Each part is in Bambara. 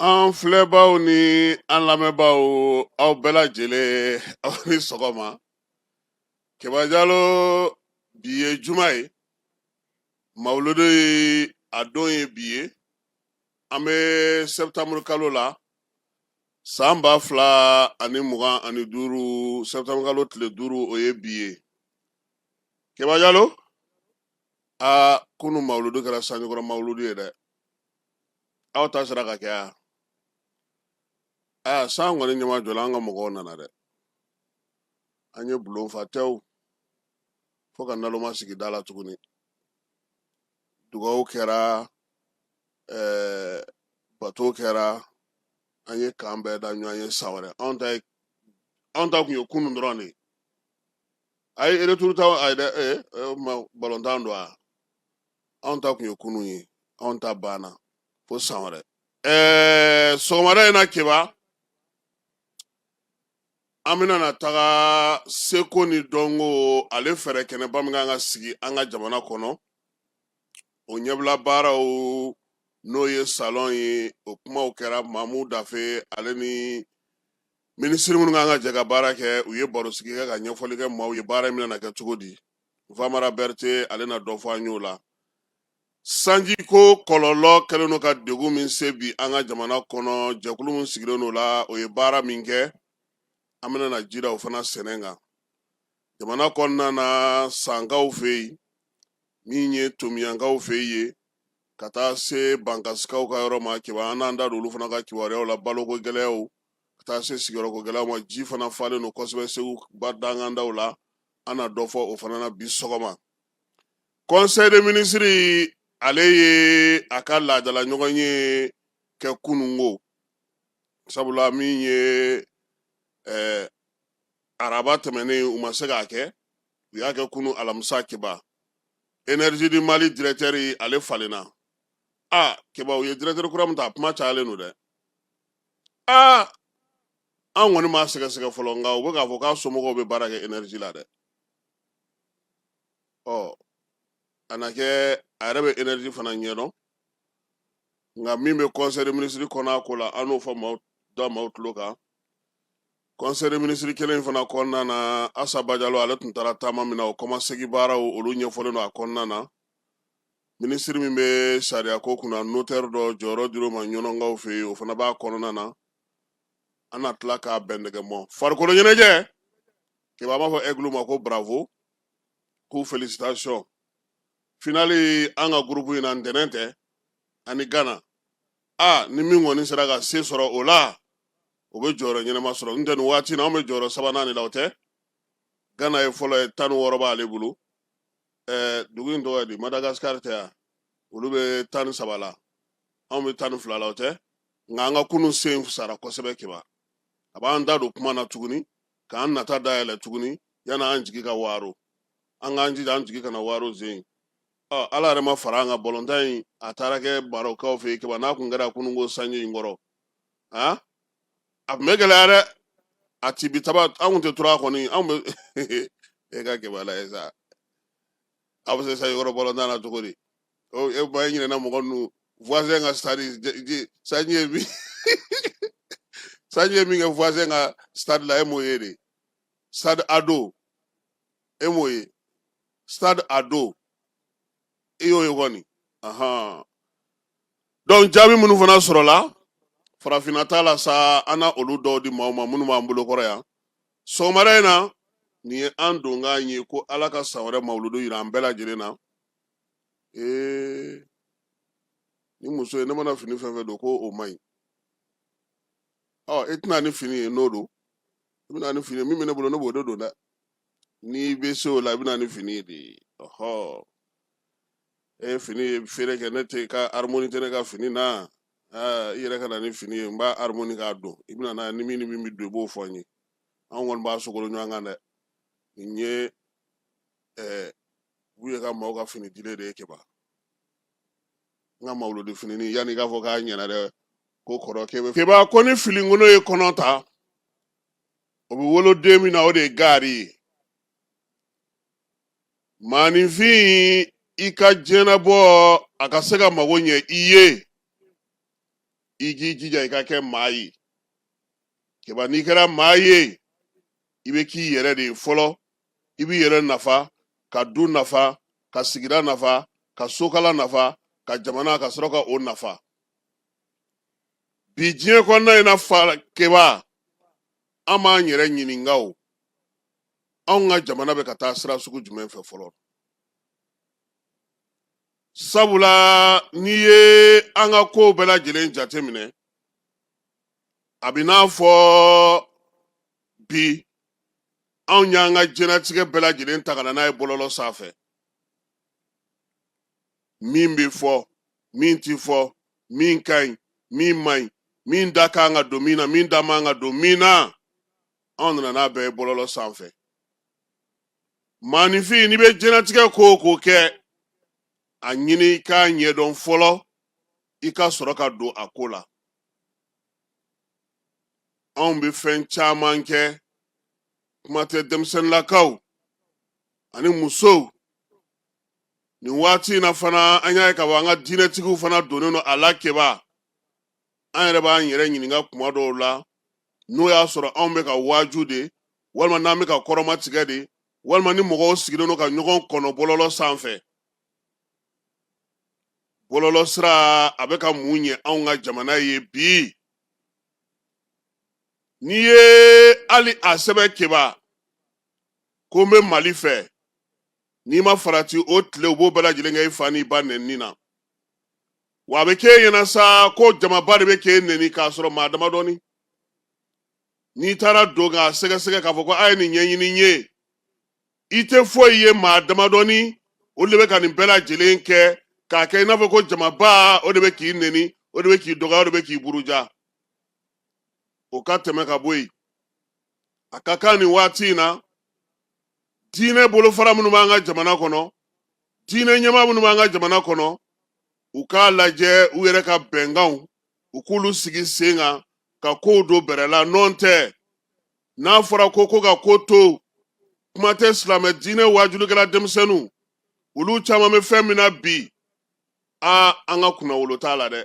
an filɛbaaw ni an lamɛnbaaw aw bɛɛ lajɛlen aw ni sɔgɔma keba jalo bi ye juma ye mawuludu ye a don ye bi ye an bɛ sɛbɛtamuru kalo la san ba fila ani mugan ani duuru sɛbɛtamuru kalo tile duuru o ye bi ye keba jalo aa kunu mawuludu kɛra sanjikɔrɔ mawuludu ye dɛ aw ta sera ka kɛ a aa san kɔni ɲɛma jɔla an ka mɔgɔw nana dɛ an ye bulon fa tɛw fo ka naloma sigi da la tuguni dugawu kɛra ɛɛ bato kɛra an ye k'an bɛn da ɲɔgɔn ye san wɛrɛ anw ta ye anw ta kun ye kunun dɔrɔn de ye a ye retour ta a ye dɛ ee o tuma balontan don a anw ta kun ye kunun ye anw ta banna fo san wɛrɛ ɛɛ sɔgɔmada in na keba an bɛna na taga seko ni dɔnko ale fɛɛrɛ kɛnɛba min kan ka sigi an ka jamana kɔnɔ o ɲɛbila baaraw n'o ye salɔn ye o kumaw kɛra mamu dafe ale ni Minisiri minnu kan ka jɛ ka baara kɛ u ye baro sigi kɛ ka ɲɛfɔli kɛ maaw ye baara in bɛna kɛ cogo di Famara Berete ale na dɔ fɔ an y'o la sanji ko kɔlɔlɔ kɛlen don ka degun min se bi an ka jamana kɔnɔ jɛkulu min sigilen don o la o ye baara min kɛ an bɛna na jira o fana sɛnɛ kan jamana kɔnɔna na sankaw fɛ yen min ye tomiɲankaw fɛ yen ye ka taa se bankasikaw ka yɔrɔ ma keba an n'an da don olu fana ka kibaruyaw la baloko gɛlɛyaw ka taa se sigiyɔrɔko gɛlɛya ma ji fana falen don kosɛbɛ segu ba dangandaw la an na dɔ fɔ o fana na bi sɔgɔma conseil des ministres ale ye a ka laadala ɲɔgɔn ye kɛ kunungo sabula min ye ɛɛ araba tɛmɛnen u ma se k'a kɛ u y'a kɛ kunu alamisa keba énergie du mali directeur ale falenna a keba u ye directeur kura min ta a kuma cayalen don dɛ aa an kɔni m'a sɛgɛsɛgɛ fɔlɔ nka u bɛ k'a fɔ k'a somɔgɔw bɛ baara kɛ énergie la dɛ ɔ a na kɛ a yɛrɛ bɛ énergie fana ɲɛdɔn nka min bɛ conseil des ministres kɔnɔ a ko la an n'o fɔ maaw da maaw tulo kan conseil des ministres kelen fana kɔnɔna na asa bajalo ale tun taara taama min na o kɔmasegi baaraw olu ɲɛfɔlen don a kɔnɔna na minisiri min bɛ sariya ko kunna notɛri dɔ jɔyɔrɔ dir'o ma ɲɔnɔnkaw fɛ yen o fana b'a kɔnɔna na an na tila k'a bɛn nɛgɛ mɔ farikolo ɲɛnajɛ kɛba n b'a fɔ egulu ma ko bravo k'u felicitation finali an ka gurupu in na ntɛnɛn tɛ an ni gana a ni min kɔni sera ka se sɔrɔ o la o bɛ jɔyɔrɔ ɲɛnama sɔrɔ n tɛ nin waati in na an bɛ jɔyɔrɔ sabanan de la o tɛ gana ye fɔlɔ ye tan ni wɔɔrɔ b'ale bolo ɛɛ dugu in tɔgɔ ye di madagasikari tɛ yan olu bɛ tan ni saba la anw bɛ tan ni fila la o tɛ nka an ka kunun sen sara kosɛbɛ kɛba a b'an da don kuma na tuguni k'an nata dayɛlɛ tuguni yanni an jigi ka waaro an k'an jija an jigi kana waaro zen ɔ ala yɛrɛ ma fara an ka balontan in a taara kɛ marɔkukaw fɛ yen kɛba n'a kun kɛra kununko sanji in kɔrɔ a a tun bɛ gɛlɛya dɛ a ti bi taba an kun tɛ tura kɔni an bɛ e ka kɛba la ye sa a bɛ se sanji kɔrɔ balontan na cogo di o e ba e ɲinɛna mɔgɔ ninnu voisin ka stade je- je- sanji ye min sanji ye min kɛ voisin ka stade la e m'o ye de stade ado e m'o ye stade ado i y'o ye kɔni ahan donc jaabi minnu fana sɔrɔla farafinna ta la sa an na olu dɔw di maaw ma minnu b'an bolo kɔrɔ yan sɔgɔmada in na nin ye an donkan ye ko ala ka san wɛrɛ mawuludu yira an bɛɛ lajɛlen na ee ni muso ye ne mana fini fɛn fɛn don ko o man ɲi ɔ i tɛ na ni fini ye n'o don i bɛ na ni fini ye min bɛ ne bolo ne b'o de don dɛ n'i bɛ se o la i bɛ na ni fini ye dɛ ɔhɔ e ye fini ye feere kɛ ne tɛ ka harmoni tɛ ne ka fini na i yɛrɛ ka na ni fini ye n b'a harmoni k'a don i bɛ na ni min ni min bɛ don i b'o fɔ n ye an kɔni b'a sogolo ɲɔgɔn kan dɛ nin ye ɛɛ buye ka maaw ka fini dilen de ye kɛba n ka mawuludi fini yanni i k'a fɔ k'a ɲɛna dɛ ko kɔrɔkɛ kɛba ko ni finikolon ye kɔnɔ ta o bɛ wolo den min na o de ye gaari ye maaninfin i ka diɲɛnabɔ a ka se ka mago ɲɛ i ye i k'i jija i ka kɛ maa ye kɛba n'i kɛra maa ye i bɛ k'i yɛrɛ de ye fɔlɔ i b'i yɛrɛ nafa ka du nafa ka sigida nafa ka sokala nafa ka jamana ka sɔrɔ ka o nafa bi diɲɛ kɔnɔna in na fa keba an b'an yɛrɛ ɲininka o anw ka jamana bɛ ka taa sira sugu jumɛn fɛ fɔlɔ sabula n'i ye an ka kow bɛɛ lajɛlen jateminɛ a bɛ n'a fɔ bi anw y'an ka jɛnatigɛ bɛɛ lajɛlen ta ka na n'a ye bɔlɔlɔ sanfɛ min bɛ fɔ min tɛ fɔ min ka ɲi min man ɲi min da ka kan ka don min na min da man kan ka don min na anw nana n'a bɛɛ ye bɔlɔlɔ sanfɛ maanifin n'i bɛ jɛnatigɛ ko o ko kɛ a ɲini i k'a ɲɛdɔn fɔlɔ i ka sɔrɔ ka don a ko la anw bɛ fɛn caman kɛ kuma tɛ denmisɛnninlakaw ani musow nin waati in na fana an y'a ye k'a fɔ an ka diinɛtigiw fana donnen don a la keba an yɛrɛ b'an yɛrɛ ɲininka kuma dɔw la n'o y'a sɔrɔ anw bɛ ka waaju de walima n'an bɛ ka kɔrɔmatigɛ de walima ni mɔgɔw sigilen don ka ɲɔgɔn kɔnɔ bɔlɔlɔ sanfɛ bɔlɔlɔ sira a bɛ ka mun ɲɛ anw ka jamana ye bi n'i ye hali a sɛbɛn keba ko n bɛ mali fɛ n'i ma farati o tile u b'o bɛɛ lajɛlen kɛ i fa n'i ba nɛnini na wa a bɛ k'e ɲɛna sa ko jamaba de bɛ k'e nɛni k'a sɔrɔ maa damadɔni n'i taara don k'a sɛgɛsɛgɛ k'a fɔ ko a ye nin ɲɛɲini n ye i tɛ foyi ye maa damadɔni olu de bɛ ka nin bɛɛ lajɛlen kɛ k'a kɛ i n'a fɔ ko jamaba o de bɛ k'i nɛni o de bɛ k'i dɔgɔya o de bɛ k'i buruja o ka tɛmɛ ka bɔ yen a ka kan nin waati in na diinɛ bolofara minnu b'an ka jamana kɔnɔ diinɛ ɲɛmaa minnu b'an ka jamana kɔnɔ u k'a lajɛ u yɛrɛ ka bɛnkanw u k'olu sigi sen kan ka kow don bɛrɛ la nɔntɛ n'a fɔra ko ko ka ko to kuma tɛ silamɛ diinɛ waajulikɛla denmisɛnninw olu caman bɛ fɛn min na bi a an ka kunnawolo t'a la dɛ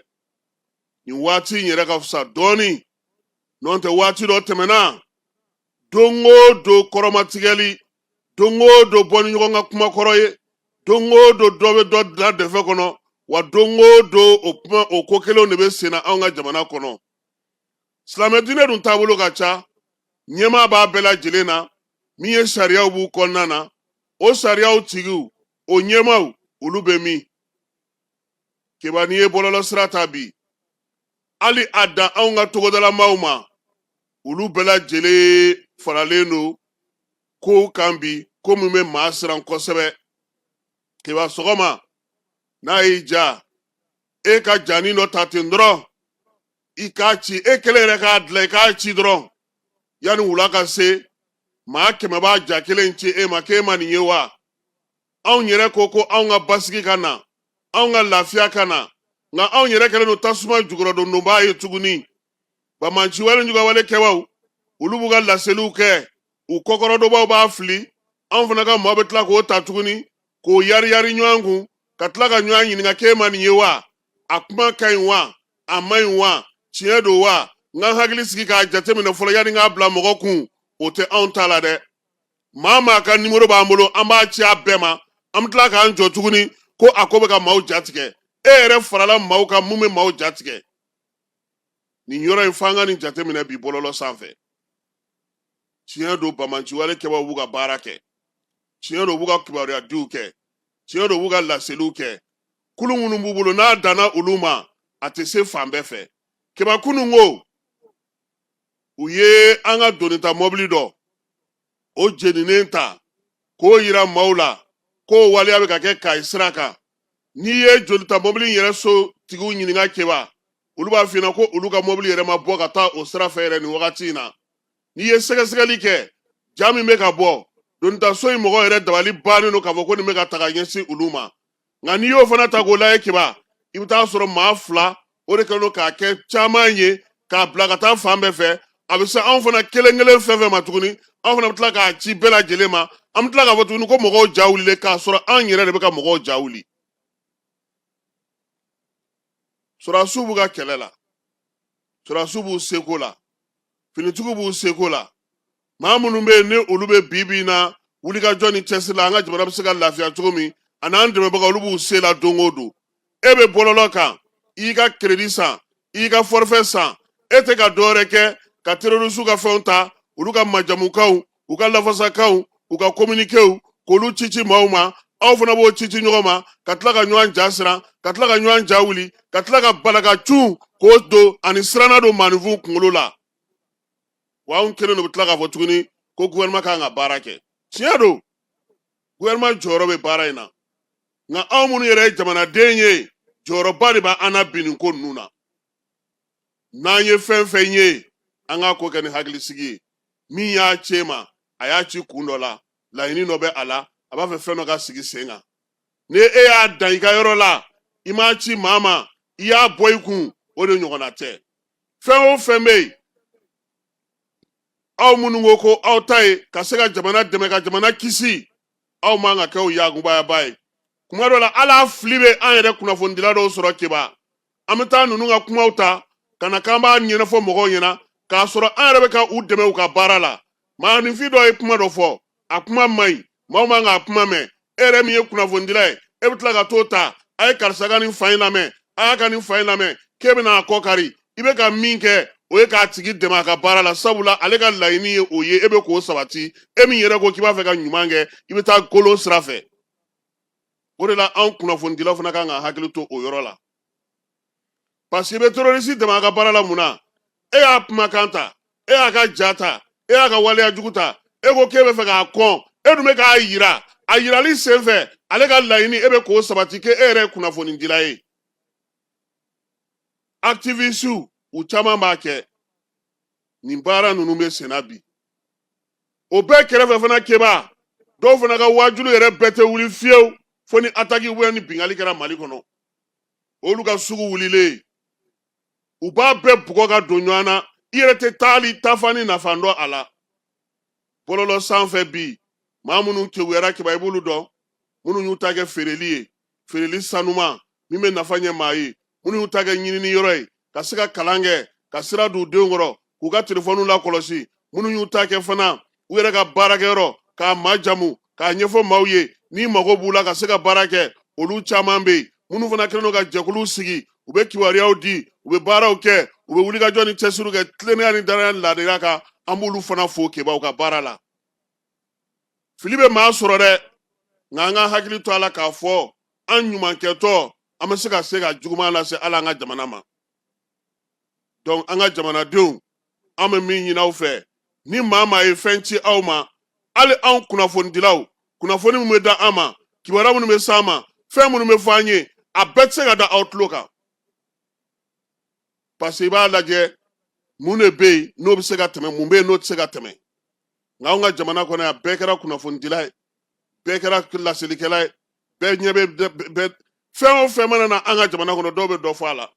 nin waati in yɛrɛ ka fisa dɔɔnin n'o tɛ waati dɔ tɛmɛna don o don kɔrɔmatigɛli don o don bɔ ni ɲɔgɔn ka kuma kɔrɔ ye don o don dɔ bɛ dɔ da dɛfɛ kɔnɔ wa don o don o ko kelenw de bɛ senna anw ka jamana kɔnɔ silamɛ diinɛ dun taabolo ka ca ɲɛmaa b'a bɛɛ lajɛlen na min ye sariyaw b'u kɔnɔna na o sariyaw tigiw o ɲɛmaaw olu bɛ min keba n'i ye bɔlɔlɔ sira ta bi hali a dan anw ka togodalamaw ma olu bɛɛ lajɛlen faralen don kow kan bi ko min bɛ maa siran kosɛbɛ keba sɔgɔma n'a ye ja e ka janin dɔ ta ten dɔrɔn i k'a ci e kelen yɛrɛ k'a dilan i k'a ci dɔrɔn yanni wula ka se maa kɛmɛ b'a ja kelen ci e ma k'e ma nin ye wa anw yɛrɛ ko ko anw ka basigi ka na anw ka lafiya ka na nka anw yɛrɛ kɛlen don tasuma jukɔrɔdondonbaa ye tuguni banbaanciwale juguyawale kɛbaw olu b'u ka laseliw kɛ u kɔkɔrɔdonbaw b'a fili anw fana ka maa bɛ tila k'o ta tuguni k'o yariyari ɲɔgɔn kun ka tila ka ɲɔgɔn ɲininka k'e ma nin ye wa a kuma ka ɲi wa a man ɲi wa tiɲɛ don wa n ka n hakili sigi k'a jateminɛ fɔlɔ yanni k'a bila mɔgɔ kun o tɛ anw ta la dɛ maa maa ka nimoro b'an bolo an b'a ci a bɛɛ ma an bɛ tila k'an jɔ tuguni ko a ko bɛ ka maaw jatigɛ e yɛrɛ farala maaw kan min bɛ maaw jatigɛ nin yɔrɔ in f'an ka nin jateminɛ bi bɔlɔlɔ sanfɛ tiɲɛ don banbaanciwale kɛbaaw b'u ka baara kɛ tiɲɛ don u b'u ka kibaruyadiw kɛ tiɲɛ don u b'u ka laseliw kɛ kulu minnu b'u bolo n'a danna olu ma a tɛ se fan bɛɛ fɛ kɛba kunun ko u ye an ka donita mɔbili dɔ o jeninen ta k'o yira maaw la k'o waleya bɛ ka kɛ kayi sira kan n'i ye donita mɔbili yɛrɛ so tigiw ɲininka kɛba olu b'a f'i ɲɛna ko olu ka mɔbili yɛrɛ ma bɔ ka taa o sira fɛ yɛrɛ nin wagati in na n'i ye sɛgɛsɛgɛli kɛ ja min bɛ ka bɔ donitaso in mɔgɔ yɛrɛ dabali bannen don k'a fɔ ko nin bɛ ka taga ɲɛsin olu ma nka n'i y'o fana ta k'o lajɛ kɛba i bɛ t'a sɔrɔ maa fila o de kɛlen don k'a kɛ caman ye k'a bila ka taa fan bɛɛ fɛ a bɛ se anw fana kelen kelen fɛn fɛn ma tuguni anw fana bɛ tila k'a ci bɛɛ lajɛlen ma an bɛ tila k'a fɔ tuguni ko mɔgɔw ja wulilen k'a sɔrɔ an yɛrɛ de bɛ ka mɔgɔw ja wuli sɔrɔdasiw b'u ka kɛlɛ la sɔrɔdasiw b'u seko la finitigiw b'u seko la maa minnu bɛ yen ni olu bɛ bi bi in na wulikajɔ ni cɛsiri la an ka jamana bɛ se ka lafiya cogo min ani an dɛmɛbaga olu b'u se la don o don e bɛ bɔlɔlɔ kan i ka keredi san i ka fɔrifɛ san e tɛ ka dɔwɛrɛ kɛ ka terorisiw ka fɛnw ta olu ka majamukanw u ka lafasakanw u ka kominikew k'olu cici maaw ma aw fana b'o cici ɲɔgɔn ma ka tila ka ɲɔgɔn ja siran ka tila ka ɲɔgɔn ja wuli ka tila ka balaka cun k'o don ani siranna don maaninfinw kunkolo la wa anw kelen de bɛ tila k'a fɔ tuguni ko gouvernement kan ka baara kɛ tiɲɛ don gouvernement jɔyɔrɔ bɛ baara in na nka anw minnu yɛrɛ ye jamanaden ye jɔyɔrɔba de b'an na bi nin ko ninnu na n'an ye fɛn fɛn ye an k'a ko kɛ ni hakilisigi ye min y'a c'e ma a y'a ci kun dɔ la laɲini dɔ bɛ a la a b'a fɛ fɛn dɔ ka sigi sen kan ni e y'a dan i ka yɔrɔ la i m'a ci maa ma i y'a bɔ i kun o de ɲɔgɔnna tɛ fɛn o fɛn bɛ yen aw minnu ko ko aw ta ye ka se ka jamana dɛmɛ ka jamana kisi aw man ka kɛ o yakubayaba ye kuma dɔ la ala fili bɛ an yɛrɛ kunnafonidila dɔw sɔrɔ keba an bɛ taa ninnu ka kumaw ta ka na k'an b'a ɲɛnafɔ mɔgɔw ɲɛna k'a sɔrɔ an yɛrɛ bɛ ka u dɛmɛ u ka baara la maaninfin dɔ ye kuma dɔ fɔ a kuma man ɲi maaw man k'a kuma mɛn e yɛrɛ min ye kunnafonidila ye e bɛ tila ka t'o ta a ye karisa ka nin fa in lamɛn a y'a ka nin fa in lamɛn k'e bɛna a kɔ kari i bɛ ka min kɛ o ye k'a tigi dɛmɛ a ka baara la sabula ale ka laɲini ye o ye e bɛ k'o sabati e min yɛrɛ ko k'i b'a fɛ ka ɲuman kɛ i bɛ taa kolon sira fɛ o de la anw kunnafonidilaw fana kan k'an hakili to o yɔrɔ la paseke i bɛ terorisi dɛmɛ a ka baara la mun na e y'a kumakan ta e y'a ka ja ta e y'a ka waleya jugu ta e ko k'e bɛ fɛ k'a kɔn e dun bɛ k'a yira a yirali sen fɛ ale ka laɲini e bɛ k'o sabati k'e yɛrɛ ye kunnafonidila ye aktivisiw u caman b'a kɛ nin baara ninnu bɛ senna bi o bɛɛ kɛrɛfɛ fana keba dɔw fana ka waajuli yɛrɛ bɛɛ tɛ wuli fiyewu fo ni ataki ou bien ni binkanni kɛra mali kɔnɔ olu ka sugu wulilen u b'a bɛɛ bugɔ ka don ɲɔgɔn na i yɛrɛ tɛ taali taafan ni nafan dɔn a la bɔlɔlɔ sanfɛ bi maa minnu kewuyara keba i b'olu dɔn minnu y'u ta kɛ feereli ye feereli sanuman min bɛ nafa ɲɛ maa ye minnu y'u ta kɛ ɲinini yɔrɔ ye ka se ka kalan kɛ ka sira don u denw kɔrɔ k'u ka telefɔniw lakɔlɔsi minnu y'u ta kɛ fana u yɛrɛ ka baarakɛyɔrɔ k'a majamu k'a ɲɛfɔ maaw ye ni mago b'u la ka se ka baara kɛ olu caman bɛ yen minnu fana kɛlen don ka jɛkuluw sigi u bɛ kibaruyaw di u bɛ baaraw kɛ u bɛ wulikajɔ ni cɛsiriw kɛ tilennenya ni danaya ni laadiriya kan an b'olu fana fo keba u ka baara la fili bɛ maa sɔrɔ dɛ nka an ka hakili to a la k'a fɔ an ɲumankɛtɔ an bɛ se ka se ka juguman lase ala an ka jamana ma donc an ka jamanadenw an bɛ min ɲini aw fɛ ni maa maa ye fɛn ci aw ma hali anw kunnafonidilaw kunnafoni minnu bɛ da an ma kibaruya minnu bɛ s'an ma fɛn minnu bɛ fɔ an ye a bɛɛ tɛ se ka da aw tulo kan parce que i b'a lajɛ mun de bɛ yen n'o bɛ se ka tɛmɛ mun bɛ yen n'o tɛ se ka tɛmɛ nka anw ka jamana kɔnɔ yan bɛɛ kɛra kunnafonidila ye bɛɛ kɛra laselikɛla ye bɛɛ ɲɛ bɛ fɛn o fɛn mana na an ka jamana kɔnɔ dɔw bɛ dɔ fɔ a la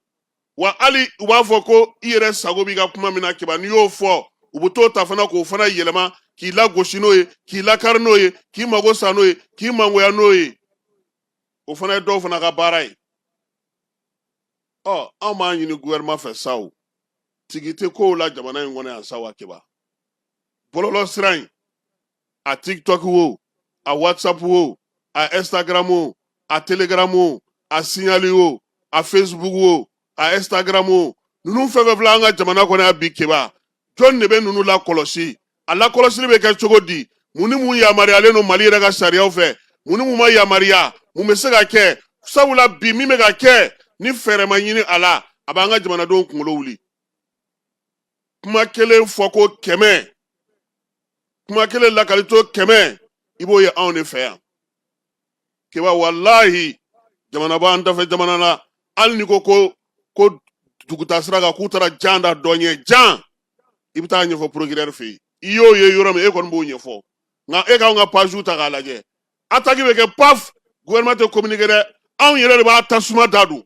wa hali u b'a fɔ ko i yɛrɛ sago b'i ka kuma min na keba n'i y'o fɔ u bɛ t'o ta fana k'o fana yɛlɛma k'i lagosi n'o ye k'i lakari n'o ye k'i mago sa n'o ye k'i mangoya n'o ye o fana ye dɔw fana ka baara ye ɔ anw b'a ɲini gouvernement fɛ sa o tigi tɛ kow la jamana in kɔnɔ yan sa wa keba bɔlɔlɔ sira in a tiktok wo a whatsapp wo a instagram wo a telegram wo a signali wo a facebook wo a instagram wo ninnu fɛn fɛn filɛ an ka jamana kɔnɔ yan bi keba jɔn de bɛ ninnu lakɔlɔsi a lakɔlɔsili bɛ kɛ cogo di mun ni mun yamaruyalen don mali yɛrɛ ka sariyaw fɛ mun ni mun ma yamaruya mun bɛ se ka kɛ sabula bi min bɛ ka kɛ ni fɛɛrɛ ma ɲini a la a b'an ka jamanadenw kunkolo wuli kuma kelen fɔ ko kɛmɛ kuma kelen lakali to kɛmɛ i b'o ye anw de fɛ yan keba walahi jamana b'an dafɛ jamana na hali ni ko ko duguta sira kan k'u taara jan da dɔ ɲɛ jan i bɛ taa ɲɛfɔ procureur fɛ yen i y'o ye yɔrɔ min e kɔni b'o ɲɛfɔ nka e k'anw ka pages ta k'a lajɛ attaque bɛ kɛ paf gouvernement tɛ communiquer dɛ anw yɛrɛ de b'a tasuma da don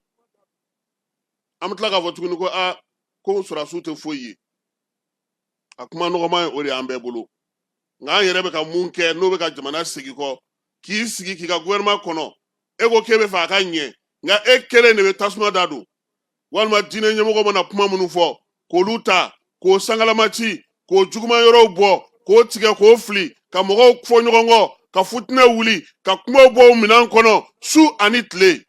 an bɛ tila k'a fɔ tuguni ko aa ko sɔrɔdasiw tɛ foyi ye a kuma nɔgɔman ye o de y'an bɛɛ bolo nka an yɛrɛ bɛ ka mun kɛ n'o bɛ ka jamana segin kɔ k'i sigi k'i ka gouvernement kɔnɔ e ko k'e bɛ fɛ a ka ɲɛ nka e kelen de bɛ tasuma da don walima diinɛ ɲɛmɔgɔ mana kuma minnu fɔ k'olu ta k'o sangalama ci k'o juguma yɔrɔw bɔ k'o tigɛ k'o fili ka mɔgɔw fɔ ɲɔgɔn kɔ ka futinɛ wuli ka kumaw bɔ minɛn kɔnɔ su ani tile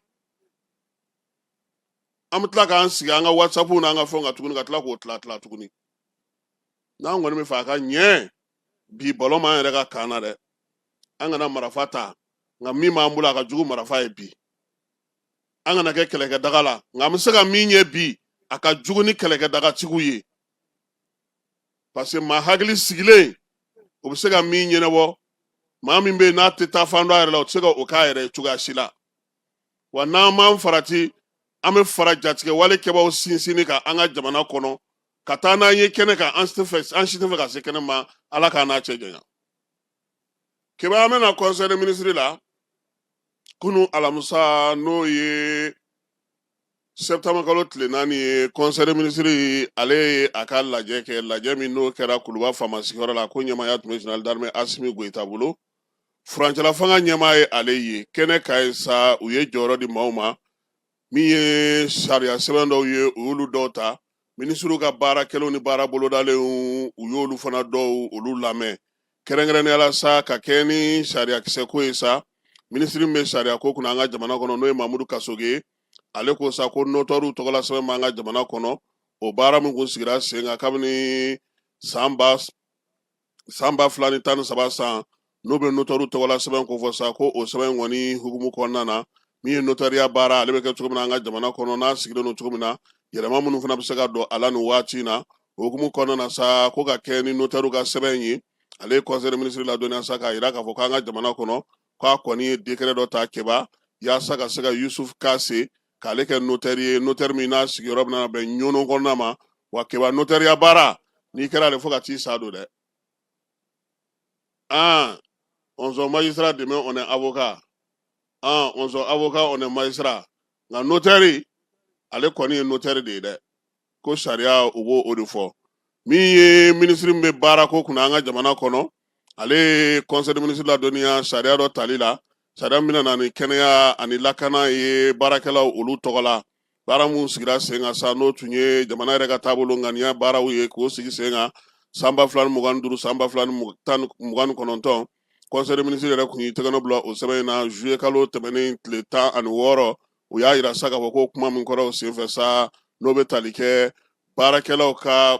an bɛ tila k'an sigi an ka whatsapp n'an ka fɛnw kan tuguni ka tila k'o tila tila tuguni n'an kɔni bɛ fɛ a ka ɲɛ bi ballon b'an yɛrɛ ka camp na dɛ an kana marafa ta nka min b'an bolo a ka jugu marafa ye bi an kana kɛ kɛlɛkɛdaga la nka an bɛ se ka min ye bi a ka jugu ni kɛlɛkɛdagatigiw ye parce que maa hakili sigilen o bɛ se ka min ɲɛnabɔ maa min bɛ yen n'a tɛ taa fan dɔn a yɛrɛ la o tɛ se ka o k'a yɛrɛ ye cogoya si la wa n'an m'an farati an bɛ fara jatigɛ wale kɛbaaw sinsinni kan an ka jamana kɔnɔ ka taa n'an ye kɛnɛ kan an si tɛ fɛ ka se kɛnɛ ma ala k'an n'a cɛ janya keba an bɛ na conseil des ministres la kunu alamisa n'o ye septembre kalo tile naani ye conseil des ministres ale ye a ka lajɛ kɛ lajɛ min n'o kɛra kuluba faama sigiyɔrɔ la ko ɲɛmaaya tun bɛ général d'armée asimi goyita bolo furancɛlafanga ɲɛmaa ye ale ye kɛnɛ ka ye sa u ye jɔyɔrɔ di maaw ma min ye sariya sɛbɛn dɔw ye u y'olu dɔw ta minisiriw ka baara kɛlenw ni baara bolodalenw u y'olu fana dɔw olu lamɛn kɛrɛnkɛrɛnnenyala sa ka kɛɲɛ ni sariyakisɛko ye sa minisiri min bɛ sariya ko kunna an ka jamana kɔnɔ n'o ye mamudu kasoge ale ko sa ko notɛriw tɔgɔla sɛbɛn b'an ka jamana kɔnɔ o baara min kun sigira sen kan kabini san ba san ba fila ni tan ni saba san n'o bɛ notɛriw tɔgɔla sɛbɛn kofɔ sa ko o sɛbɛn kɔni hukumu kɔnɔna na min ye notariya baara ale bɛ kɛ cogo min na an ka jamana kɔnɔ n'a sigilen don cogo min na yɛlɛma minnu fana bɛ se ka don a la nin waati in na o hukumu kɔnɔna na sa ko ka kɛ ni notɛriw ka sɛbɛn ye ale ye conseil des ministres ladɔnniya sa k'a jira k'a fɔ k'an ka jamana kɔnɔ k'a kɔni ye décret dɔ ta kɛba yaasa ka se ka yusuf kase k'ale kɛ notɛri ye notɛri min n'a sigiyɔrɔ bɛna bɛn ɲɔnɔ kɔnɔna ma wa kɛba notɛriya baara n'i kɛra ale fo ka t'i sa don dɛ an on sort magistrat demain on est avocat an on sort avocat on est magistrat nka notɛri ale kɔni ye notɛri de ye dɛ ko sariya u b'o de fɔ min ye minisiri min bɛ baara ko kunna an ka jamana kɔnɔ ale ye conseil des ministres ladɔnniya sariya dɔ tali la sariya min bɛna na ni kɛnɛya ani lakana ye baarakɛlaw olu tɔgɔ la baara minnu sigira sen kan sa n'o tun ye jamana yɛrɛ ka taabolo ŋaniya baaraw ye k'o sigi sen kan san ba fila ni mugan duuru san ba fila ni mugan ni kɔnɔntɔn conseil des ministres yɛrɛ kun y'i tɛgɛnɔ bila o sɛbɛn in na zuye kalo tɛmɛnen tile tan ani wɔɔrɔ u y'a jira sa k'a fɔ ko kuma min kɛra o senfɛ sa n'o bɛ tali kɛ baarakɛlaw ka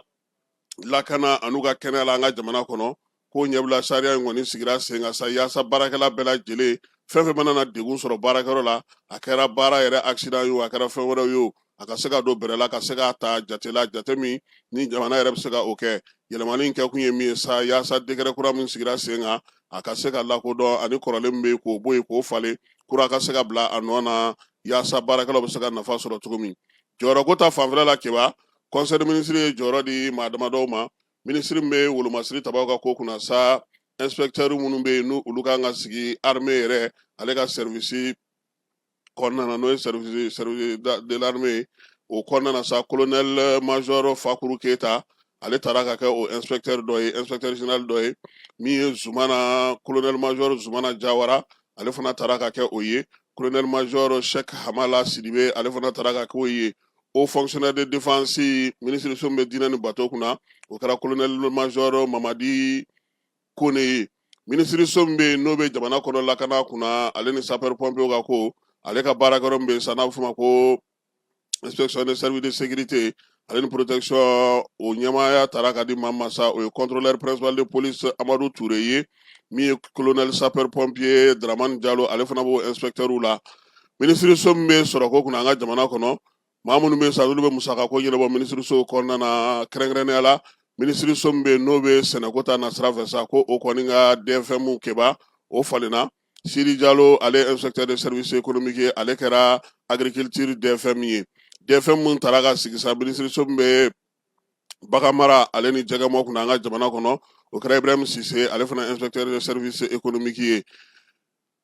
lakana an'u ka kɛnɛya la an ka jamana kɔnɔ ko ɲɛbila sariya in kɔni sigira sen kan sa yaasa baarakɛla bɛɛ lajɛlen fɛn fɛn mana na degun sɔrɔ baarakɛyɔrɔ la a kɛra baara yɛrɛ accident ye o a kɛra fɛn wɛrɛw ye o a ka se ka don bɛrɛ la ka se k'a ta jate la jate min ni jamana yɛrɛ bɛ se ka o kɛ yɛlɛmani in kɛkun ye min ye sa yaasa décret kura min sigira sen kan a ka se ka lakodɔn ani kɔrɔlen min bɛ yen k'o bɔ yen k'o falen kura ka se ka bila a nɔ na yaasa baarakɛlaw bɛ se ka nafa sɔrɔ cogo min jɔyɔrɔko ta fanfɛla la kɛba conseil des ministres ye jɔyɔrɔ di maa damadɔw ma minisiri min bɛ wolomasiri tabaw ka ko kunna sa inspecteur minnu bɛ yen ni olu ka kan ka sigi armée yɛrɛ ale ka service kɔnɔna na n'o ye service de l'armée o kɔnɔna na sa colonel major Fakuru Keyita ale taara ka kɛ o inspecteur dɔ ye inspecteur général dɔ ye min ye Zumana colonel major Zumana Jawara ale fana taara ka kɛ o ye colonel major Sɛk Hamala Sidibe ale fana taara ka kɛ o ye haut fonctionnaire de défense minisiriso bɛ diinɛ ni bato kunna o kɛra colonel major Mamadi kone ye minisiriso min bɛ yen n'o bɛ jamana kɔnɔ lakana kunna ale ni sapeur pompierw ka ko ale ka baarakɛyɔrɔ min bɛ yen sa n'a bɛ f'o ma ko inspection de service de sécurité ale ni protection o ɲɛmaaya taara ka di maa ma sa o ye contrôleur principal de police amadu ture ye min ye colonel sapeur pompier dramani jalo ale fana b'o inspecteurw la minisiriso min bɛ sɔrɔko kunna an ka jamana kɔnɔ maa minnu bɛ sa n'olu bɛ musaka ko ɲɛnabɔ minisiriso kɔnɔna na kɛrɛnkɛrɛnnenya la minisiriso min bɛ yen n'o bɛ sɛnɛko ta nasira fɛ sa ko o kɔni ka DFM keba o falenna siri jalo ale inspecteur de service économique ye ale kɛra agriculture DFM ye DFM minnu taara ka sigi sa minisiriso min bɛ bagan mara ale ni jɛgɛmɔ kunna an ka jamana kɔnɔ o kɛra ibrahim sise ale fana inspecteur de service économique ye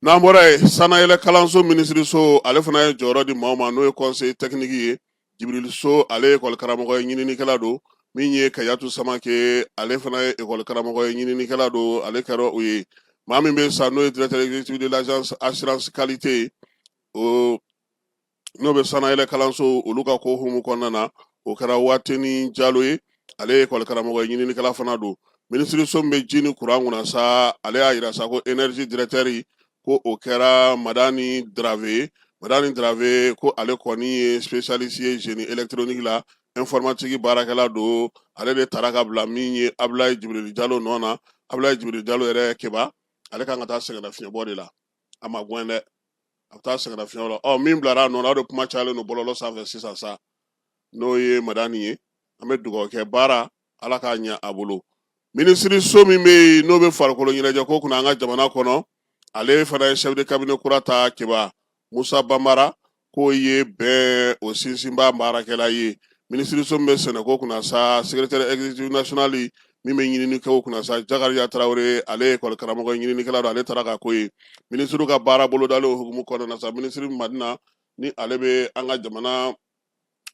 N'an bɔra yen sanayɛlɛ kalanso minisiriso ale fana ye jɔyɔrɔ di maaw ma n'o ye conseiller technique ye jibirili so ale ye ekɔli karamɔgɔ ye ɲininikɛla don min ye kayatu samake ale fana ye ekɔli karamɔgɔ ye ɲininikɛla don ale kɛra o ye maa min bɛ sa n'o ye directeur exécutif de l'agence assurance qualité ye n'o bɛ sanayɛlɛ kalansow olu ka ko hukumu kɔnɔna na o kɛra wateni jalo ye ale ye ekɔli karamɔgɔ ye ɲininikɛla fana don minisiriso min bɛ ji ni kuran kunna sa ale y'a yira sa ko énergie directeur ko o kɛra madani drave madani drave ko ale kɔni ye spécialiste ye génie électronique la informatique baarakɛla don ale de taara ka bila min ye abulayi jibirili jalo nɔ na abulayi jibirili jalo yɛrɛ keba ale kan ka taa sɛgɛnnafiɲɛbɔ de la a ma gɛn dɛ a bɛ taa sɛgɛnnafiɲɛbɔ la ɔ min bilara a nɔ na o de kuma cayalen don bɔlɔlɔ sanfɛ sisan sa n'o ye madani ye an bɛ dugawu kɛ baara ala k'a ɲɛ a bolo minisiriso min bɛ yen n'o bɛ farikolo ɲɛnajɛ ko kunna an ka jamana kɔnɔ ale fana ye chef de cabinet kura ta keba musa banbara k'o ye bɛn o sinsinba baarakɛla ye minisiriso min bɛ sɛnɛko kunna sa secrétaire exécutif national min bɛ ɲininiko kunna sa jakariya tarawele ale ye ekɔli karamɔgɔ ɲininikɛla don ale taara ka k'o ye minisiri ka baara bolodalen hukumu kɔnɔna na sa minisiri madina ni ale bɛ an ka jamana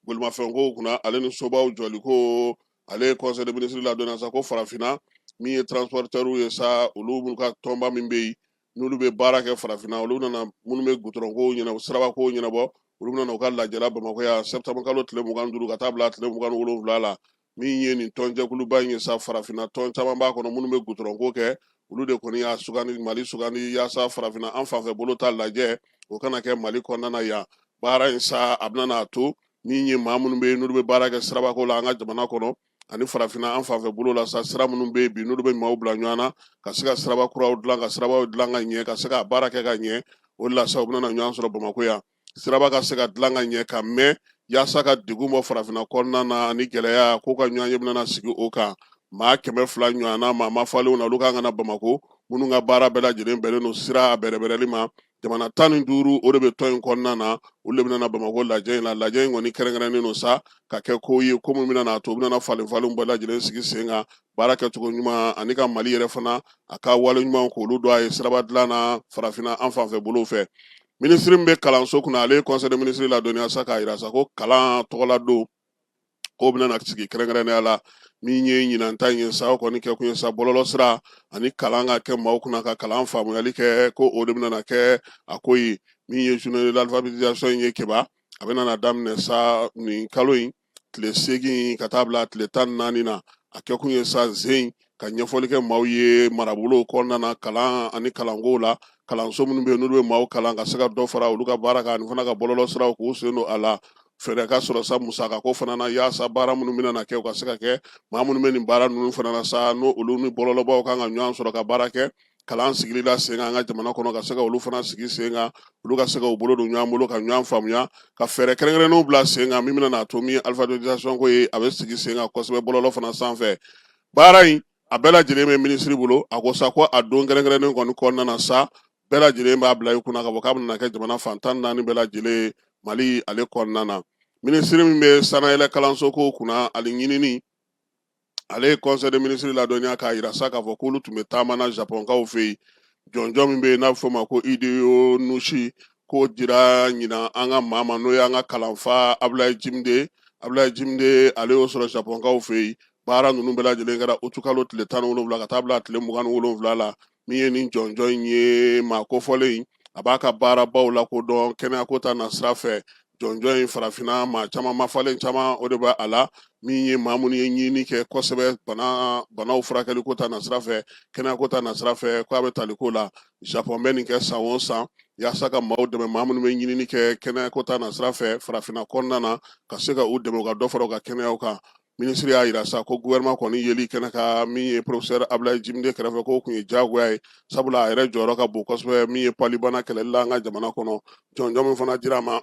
bolimafɛnko kunna ale ni sobaw jɔli ko ale ye conseil des ministres ladon sa ko farafinna min ye transporteurw ye sa olu minnu ka tɔnba min bɛ yen n'olu bɛ baara kɛ farafinna olu nana minnu bɛ gudɔrɔnko ɲɛna sirabako ɲɛnabɔ olu nana u ka lajɛ la bamakɔ yan septembre kalo tile mugan duuru ka taa bila tile mugan wolonwula la min ye nin tɔnjɛkuluba in ye sa farafinna tɔn caman b'a kɔnɔ minnu bɛ gudɔrɔnko kɛ olu de kɔni y'a sugandi mali sugandi yaasa farafinna an fanfɛ bolo ta lajɛ o ka na kɛ mali kɔnɔna yan baara in sa a bɛna n'a to min ye maa minnu bɛ yen n'olu bɛ baara kɛ sirabako la an ka jamana kɔnɔ ani farafinna an fanfɛ bolo la sa sira minnu bɛ yen bi n'olu bɛ maaw bila ɲɔgɔn na ka se ka siraba kuraw dilan ka sirabaw dilan ka ɲɛ ka se ka baara kɛ ka ɲɛ o de la sa u bɛna na ɲɔgɔn sɔrɔ bamakɔ yan siraba ka se ka dilan ka ɲɛ ka mɛn yaasa ka degun bɔ farafinna kɔnɔna na ani gɛlɛya k'u ka ɲɔgɔnye bɛna na sigi o kan maa kɛmɛ fila ɲɔgɔnna maa mafalenw na olu kan ka na bamakɔ minnu ka baara bɛɛ lajɛlen bɛnnen don sira a bɛrɛbɛrɛli ma jamana tan ni duuru o de bɛ tɔn in kɔnɔna na olu de bɛna na bamakɔ lajɛ in la lajɛ in kɔni kɛrɛnkɛrɛnnen don sa ka kɛ ko ye ko min bɛna n'a to u bɛna na falenfalenw bɛɛ lajɛlen sigi sen kan baara kɛcogo ɲuman ani ka mali yɛrɛ fana a ka wale ɲumanw k'olu dɔn a ye siraba dilan na farafinna an fanfɛ bolo fɛ minisiri min bɛ kalanso kunna ale ye conseil des ministres ladɔnniya sa k'a jira sa ko kalan tɔgɔladon ko bɛna na sigi kɛrɛnkɛrɛnnenya la min ye ɲinan ta in ye sa o kɔni kɛ kun ye sa bɔlɔlɔ sira ani kalan ka kɛ maaw kunna ka kalan faamuyali kɛ ko o de bɛna na kɛ a ko ye min ye journée de l'alphabétisation in ye kɛba a bɛna na daminɛ sa nin kalo in tile seegin ka taa bila tile tan naani na a kɛkun ye sa zen ka ɲɛfɔli kɛ maaw ye marabolo kɔnɔna na kalan ani kalanko la kalanso minnu bɛ yen n'olu bɛ maaw kalan ka se ka dɔ fara olu ka baara kan ani fana ka bɔlɔlɔ siraw k'u sen don a la fɛɛrɛ ka sɔrɔ sa musaka ko fana na yaasa baara minnu bɛna na kɛ u ka se ka kɛ maa minnu bɛ nin baara ninnu fana na sa n'o olu ni bɔlɔlɔbaw kan ka ɲɔgɔn sɔrɔ ka baara kɛ kalan sigili la sen kan an ka jamana kɔnɔ ka se ka olu fana sigi sen kan olu ka se ka u bolo don ɲɔgɔn bolo ka ɲɔgɔn faamuya ka fɛɛrɛ kɛrɛnkɛrɛnnenw bila sen kan min bɛna n'a to min alifabetizasɔnko ye a bɛ sigi sen kan kosɛbɛ bɔlɔlɔ fana sanfɛ baara in a bɛɛ lajɛlen bɛ minisiri bolo a ko sa ko a don kɛrɛnkɛrɛnnen kɔni kɔnɔna na sa bɛɛ lajɛlen b'a bila i kunna k'a fɔ k'a bɛna kɛ jamana fan tan naani bɛɛ lajɛlen mali ale kɔnɔna na minisiri min bɛ sannayɛlɛn kalanso ko kunna ani ɲinini ale ye conseil des ministres ladɔnniya k'a jira sa k'a fɔ k'olu tun bɛ taamana japɔnkaw fɛ yen jɔnjɔn min bɛ yen n'a bɛ fɔ o ma ko hideyo noguchi k'o dira ɲinan an ka maa ma n'o y'an ka kalanfa abulayi jimde abulayi jimde ale y'o sɔrɔ japɔnkaw fɛ yen baara ninnu bɛɛ lajɛlen kɛra utikalo tile tan ni wolonwula ka taa bila tile mugan ni wolonwula la min ye nin jɔnjɔn in ye maa kofɔlen in a b'a ka baarabaw lakodɔn kɛnɛyako ta na sira fɛ jɔnjɔn in farafinna maa caman mafalen caman o de bɛ a la min ye maa minnu ye ɲini kɛ kosɛbɛ bana banaw furakɛliko ta na sira fɛ kɛnɛyako ta na sira fɛ ko a bɛ taliko la japɔn bɛ nin kɛ san o san yaasa ka maaw dɛmɛ maa minnu bɛ ɲinini kɛ kɛnɛyako ta na sira fɛ farafinna kɔnɔna na ka se ka u dɛmɛ u ka dɔ fara u ka kɛnɛyaw kan minisiri y'a jira sa ko guwɛrinɛman kɔni yeli kɛnɛ kan min ye porofesɛri abulayi jimide kɛrɛfɛ k'o kun ye diyagoya ye sabula a yɛrɛ jɔyɔrɔ ka bon kosɛbɛ min ye palubana kɛlɛli la an ka jamana kɔnɔ jɔnjɔn min fana dira a ma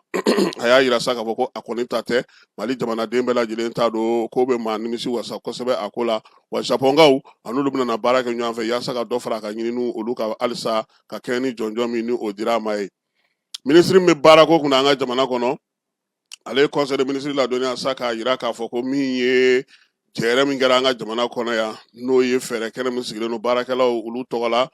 a y'a jira sa k'a fɔ ko a kɔni ta tɛ mali jamanaden bɛɛ lajɛlen ta don k'o bɛ maa nimisiwasa kosɛbɛ a ko la wa japɔnkaw an'olu bɛna na baara kɛ ɲɔgɔn fɛ yaasa ka dɔ fara a ka ɲininiw olu ka halisa ka kɛɲɛ ni jɔnjɔn min ni o dira a ma ye minisiri min bɛ baarako kunna an ka jamana kɔnɔ ale ye conseil des ministres ladɔnniya sa k'a jira k'a fɔ ko min ye jɛrɛ min kɛra an ka jamana kɔnɔ yan n'o ye fɛɛrɛ kɛnɛ min sigilen don baarakɛlaw olu tɔgɔ la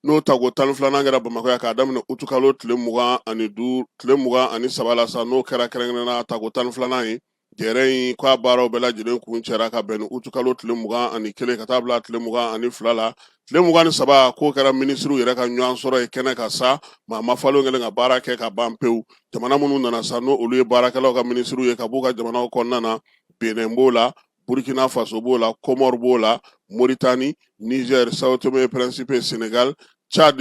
n'o tako tan filanan kɛra bamakɔ yan k'a daminɛ utukalo tile mugan ani du tile mugan ani saba la sa n'o kɛra kɛrɛnkɛrɛnna tako tan filanan ye jɛrɛ in k'a baaraw bɛɛ lajɛlen kuncɛra ka bɛn ni utukalo tile mugan ani kelen ka taa bila tile mugan ani fila la tile mugan ni saba k'o kɛra minisiriw yɛrɛ ka ɲɔgɔn sɔrɔ ye kɛnɛ kan sa maa ma falen kɛlen ka baara kɛ ka ban pewu jamana minnu nana sa n'o olu ye baarakɛlaw ka minisiriw ye ka b'u ka jamanaw kɔnɔna na benin b'o la burkina faso b'o la kɔmɔri b'o la moritani niger sao tome et principe senegal chad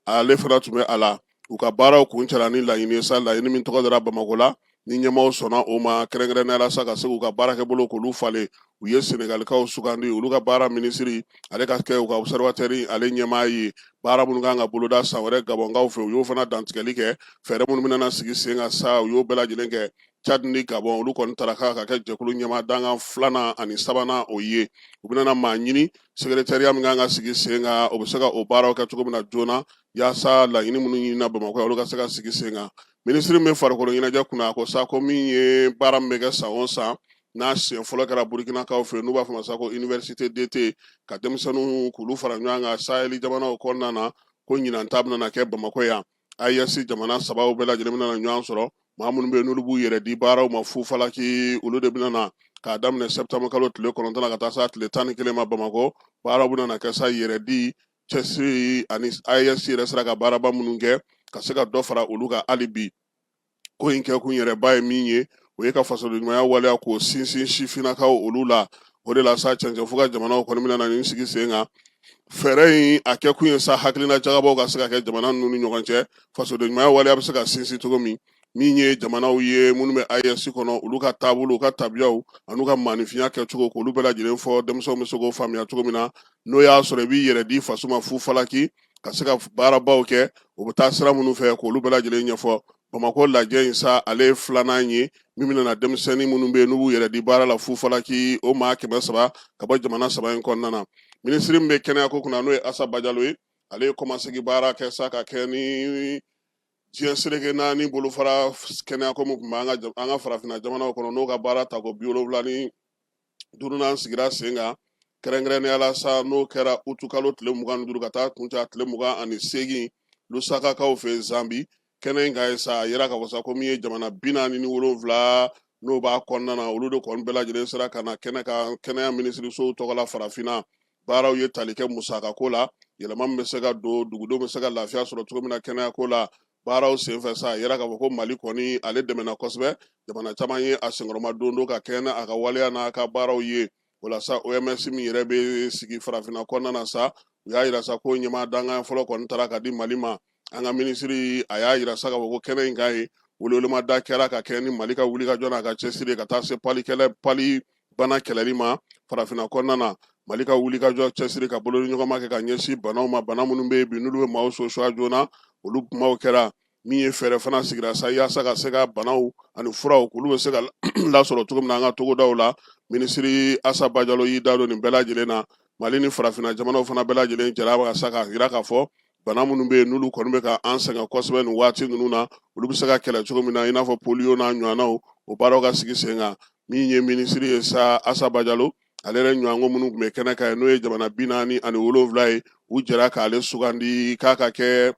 ale fana tun bɛ a la u ka baaraw kuncɛla ni laɲini ye sa laɲini min tɔgɔ dara bamakɔ la ni ɲɛmaaw sɔnna o ma kɛrɛnkɛrɛnnenya la sa ka se k'u ka baarakɛbolo k'olu falen u ye senegalikaw sugandi olu ka baara minisiri ale ka kɛ u ka observatoire ale ɲɛmaa ye baara minnu ka kan ka boloda san wɛrɛ gabɔnkaw fɛ u y'o fana dantigɛli kɛ fɛɛrɛ minnu bɛna sigi sen kan sa u y'o bɛɛ lajɛlen kɛ Chad ni Gabon olu kɔni tara k'a ka kɛ jɛkulu ɲɛmaa dankan filanan ani sabanan o ye u bɛna maa ɲini secrétariat min ka kan ka sigi sen kan o bɛ se ka o baaraw kɛ cogo min na joona yaasa laɲini minnu ɲinina bamakɔ yan olu ka se ka sigi sen kan minisiri min bɛ farikolo ɲɛnajɛ kunna ko sa ko min ye baara min bɛ kɛ san o san n'a siɲɛ fɔlɔ kɛra burukinakaw fɛ n'u b'a f'a ma sa ko université d'été ka denmisɛnninw k'olu fara ɲɔgɔn kan saheli jamanaw kɔnɔna na ko ɲinan ta bɛna kɛ bamakɔ yan AES jamana saba bɛɛ lajɛlen bɛna ɲɔgɔn sɔrɔ maa minnu bɛ yen n'olu b'u yɛrɛ di baaraw ma fu falaki olu de bɛna na k'a daminɛ septembre kalo tile kɔnɔntɔn ka taa se a tile tan ni kelen ma bamakɔ baaraw bɛna na kɛ sa yɛrɛ di cɛsiri ani AES yɛrɛ sera ka baaraba minnu kɛ ka se ka dɔ fara olu kan hali bi ko in kɛ kun yɛrɛba ye min ye o ye ka fasodenɲumanya waleya k'o sinsin sifinnakaw olu la o de la sa cɛncɛn fuga jamanaw kɔni bɛna na nin sigi sen kan fɛɛrɛ in a kɛ kun ye sa hakilina jagabɔw ka se ka kɛ jamana ninnu ni ɲɔgɔn cɛ fasodenɲumanya waleya bɛ se ka sinsin cogo min min ye jamanaw ye minnu bɛ AES kɔnɔ olu ka taabolo u ka tabiyaw an'u ka maanifinya kɛcogo k'olu bɛɛ lajɛlen fɔ denmisɛnw bɛ se k'o faamuya cogo min na n'o y'a sɔrɔ i b'i yɛrɛ di faso ma fu falaki ka se ka baarabaw kɛ o bɛ taa sira minnu fɛ k'olu bɛɛ lajɛlen ɲɛfɔ bamakɔ lajɛ in sa ale ye filanan ye min bɛna denmisɛnnin minnu bɛ yen n'u b'u yɛrɛ di baara la fufalaki o maa kɛmɛ saba ka bɔ jamana saba in kɔnɔna na minisiri min bɛ kɛnɛya ko kunna n'o ye asa bajalo ye ale ye kɔmasegi baara kɛ sa ka kɛ ni diɲɛ seleke naani bolofara kɛnɛya ko min tun bɛ an ka farafinna jamanaw kɔnɔ n'o ka baara tako bi wolonwula ni duurunan sigira sen kan kɛrɛnkɛrɛnnenya la sa n'o kɛra utukalo tile mugan ni duuru ka taa kuncɛ a tile mugan ani seegin lusakakaw fɛ zambi kɛnɛ in kan yen sa a yera k'a fɔ sa ko min ye jamana bi naani ni wolonwula n'o b'a kɔnɔna na olu de kɔni bɛɛ lajɛlen sera ka na kɛnɛ kan kɛnɛya minisirisow tɔgɔ la farafinna baaraw ye tali kɛ musakako la yɛlɛma min bɛ se ka don dugudenw bɛ se ka lafiya sɔrɔ cogo min na kɛnɛyako la baaraw senfɛ sa a yera k'a fɔ ko mali kɔni ale dɛmɛna kosɛbɛ jamana caman ye a senkɔrɔmadondon ka kɛɲɛ a ka waleya n'a ka baaraw ye o la sa oms min yɛrɛ bɛ sigi farafinna kɔnɔna na sa u y'a yira sa ko ɲɛmaa dankan fɔlɔ kɔni taara ka di mali ma an ka minisiri a y'a yira sa k'a fɔ ko kɛnɛ in kan yen welewelemada kɛra ka kɛ ni mali ka wulikajɔ n'a ka cɛsiri ka taa se pali kɛlɛ pali bana kɛlɛli ma farafinna kɔnɔna na mali ka wulikajɔ cɛsiri ka bolodiɲɔgɔnma kɛ ka ɲɛsin banaw ma bana minnu bɛ yen bi n'olu bɛ maaw sosuya joona olu kumaw kɛra min ye fɛɛrɛ fana sigira sa yaasa ka se ka banaw ani furaw k'olu bɛ se ka lasɔrɔ cogo min na an ka togodaw la minisiri asa bajalo y'i da don nin bɛɛ lajɛlen na mali ni farafinna jamanaw fana bɛɛ lajɛlen jɛra ka sa k'a yira k'a fɔ bana minnu bɛ yen n'olu kɔni bɛ ka an sɛgɛn kosɛbɛ nin waati ninnu na olu bɛ se ka kɛlɛ cogo min na i n'a fɔ poliyo n'a ɲɔgɔnnaw o baaraw ka sigi sen kan min ye minisiri ye sa asa bajalo ale yɛrɛ ɲɔgɔnko minnu tun bɛ kɛnɛ kan n'o ye jamana bi naani ani wolonwula ye u jɛra k'ale sugandi k'a ka kɛ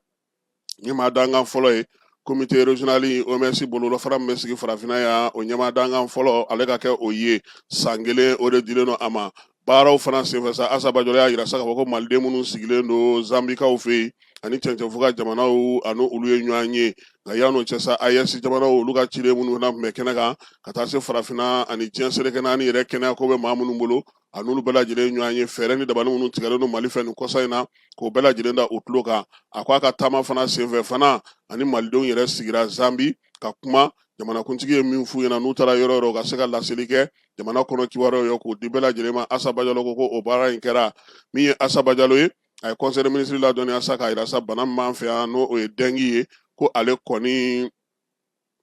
ɲɛmaa dankan fɔlɔ ye komite rezonali oms bololafara min bɛ sigi farafinna yan o ɲɛmaa dankan fɔlɔ ale ka kɛ o ye san kelen o de dilen don a ma baaraw fana senfɛ sa asa bajalo y'a yira sa k'a fɔ ko maliden minnu sigilen don zanbikaw fɛ yen ani cɛncɛnfuga jamanaw a ni olu ye ɲɔgɔn ye nka yann'o cɛ sa aes jamanaw olu ka ciden minnu fana tun bɛ kɛnɛ kan ka taa se farafinna ani diɲɛ seleke naani yɛrɛ kɛnɛyako bɛ maa minnu bolo a n'olu bɛɛ lajɛlen ɲɔgɔn ye fɛɛrɛ ni dabali minnu tigɛlen don mali fɛ nin kɔsa in na k'o bɛɛ lajɛlen da u tulo kan a ko a ka taama fana senfɛ fana a ni malidenw yɛrɛ sigira zambi ka kuma jamanakuntigi ye min f'u ɲɛna n'u taara yɔrɔ yɔrɔ ka se ka laseli kɛ jamana kɔnɔ kibaruyaw ye k'o di bɛɛ lajɛlen ma asa bajalo ko ko o baara in kɛra min ye asa bajalo ye a ye conseil des ministres ladɔnniya sa k'a yira sa bana min b'an fɛ yan n'o ye dɛngi ye ko ale kɔni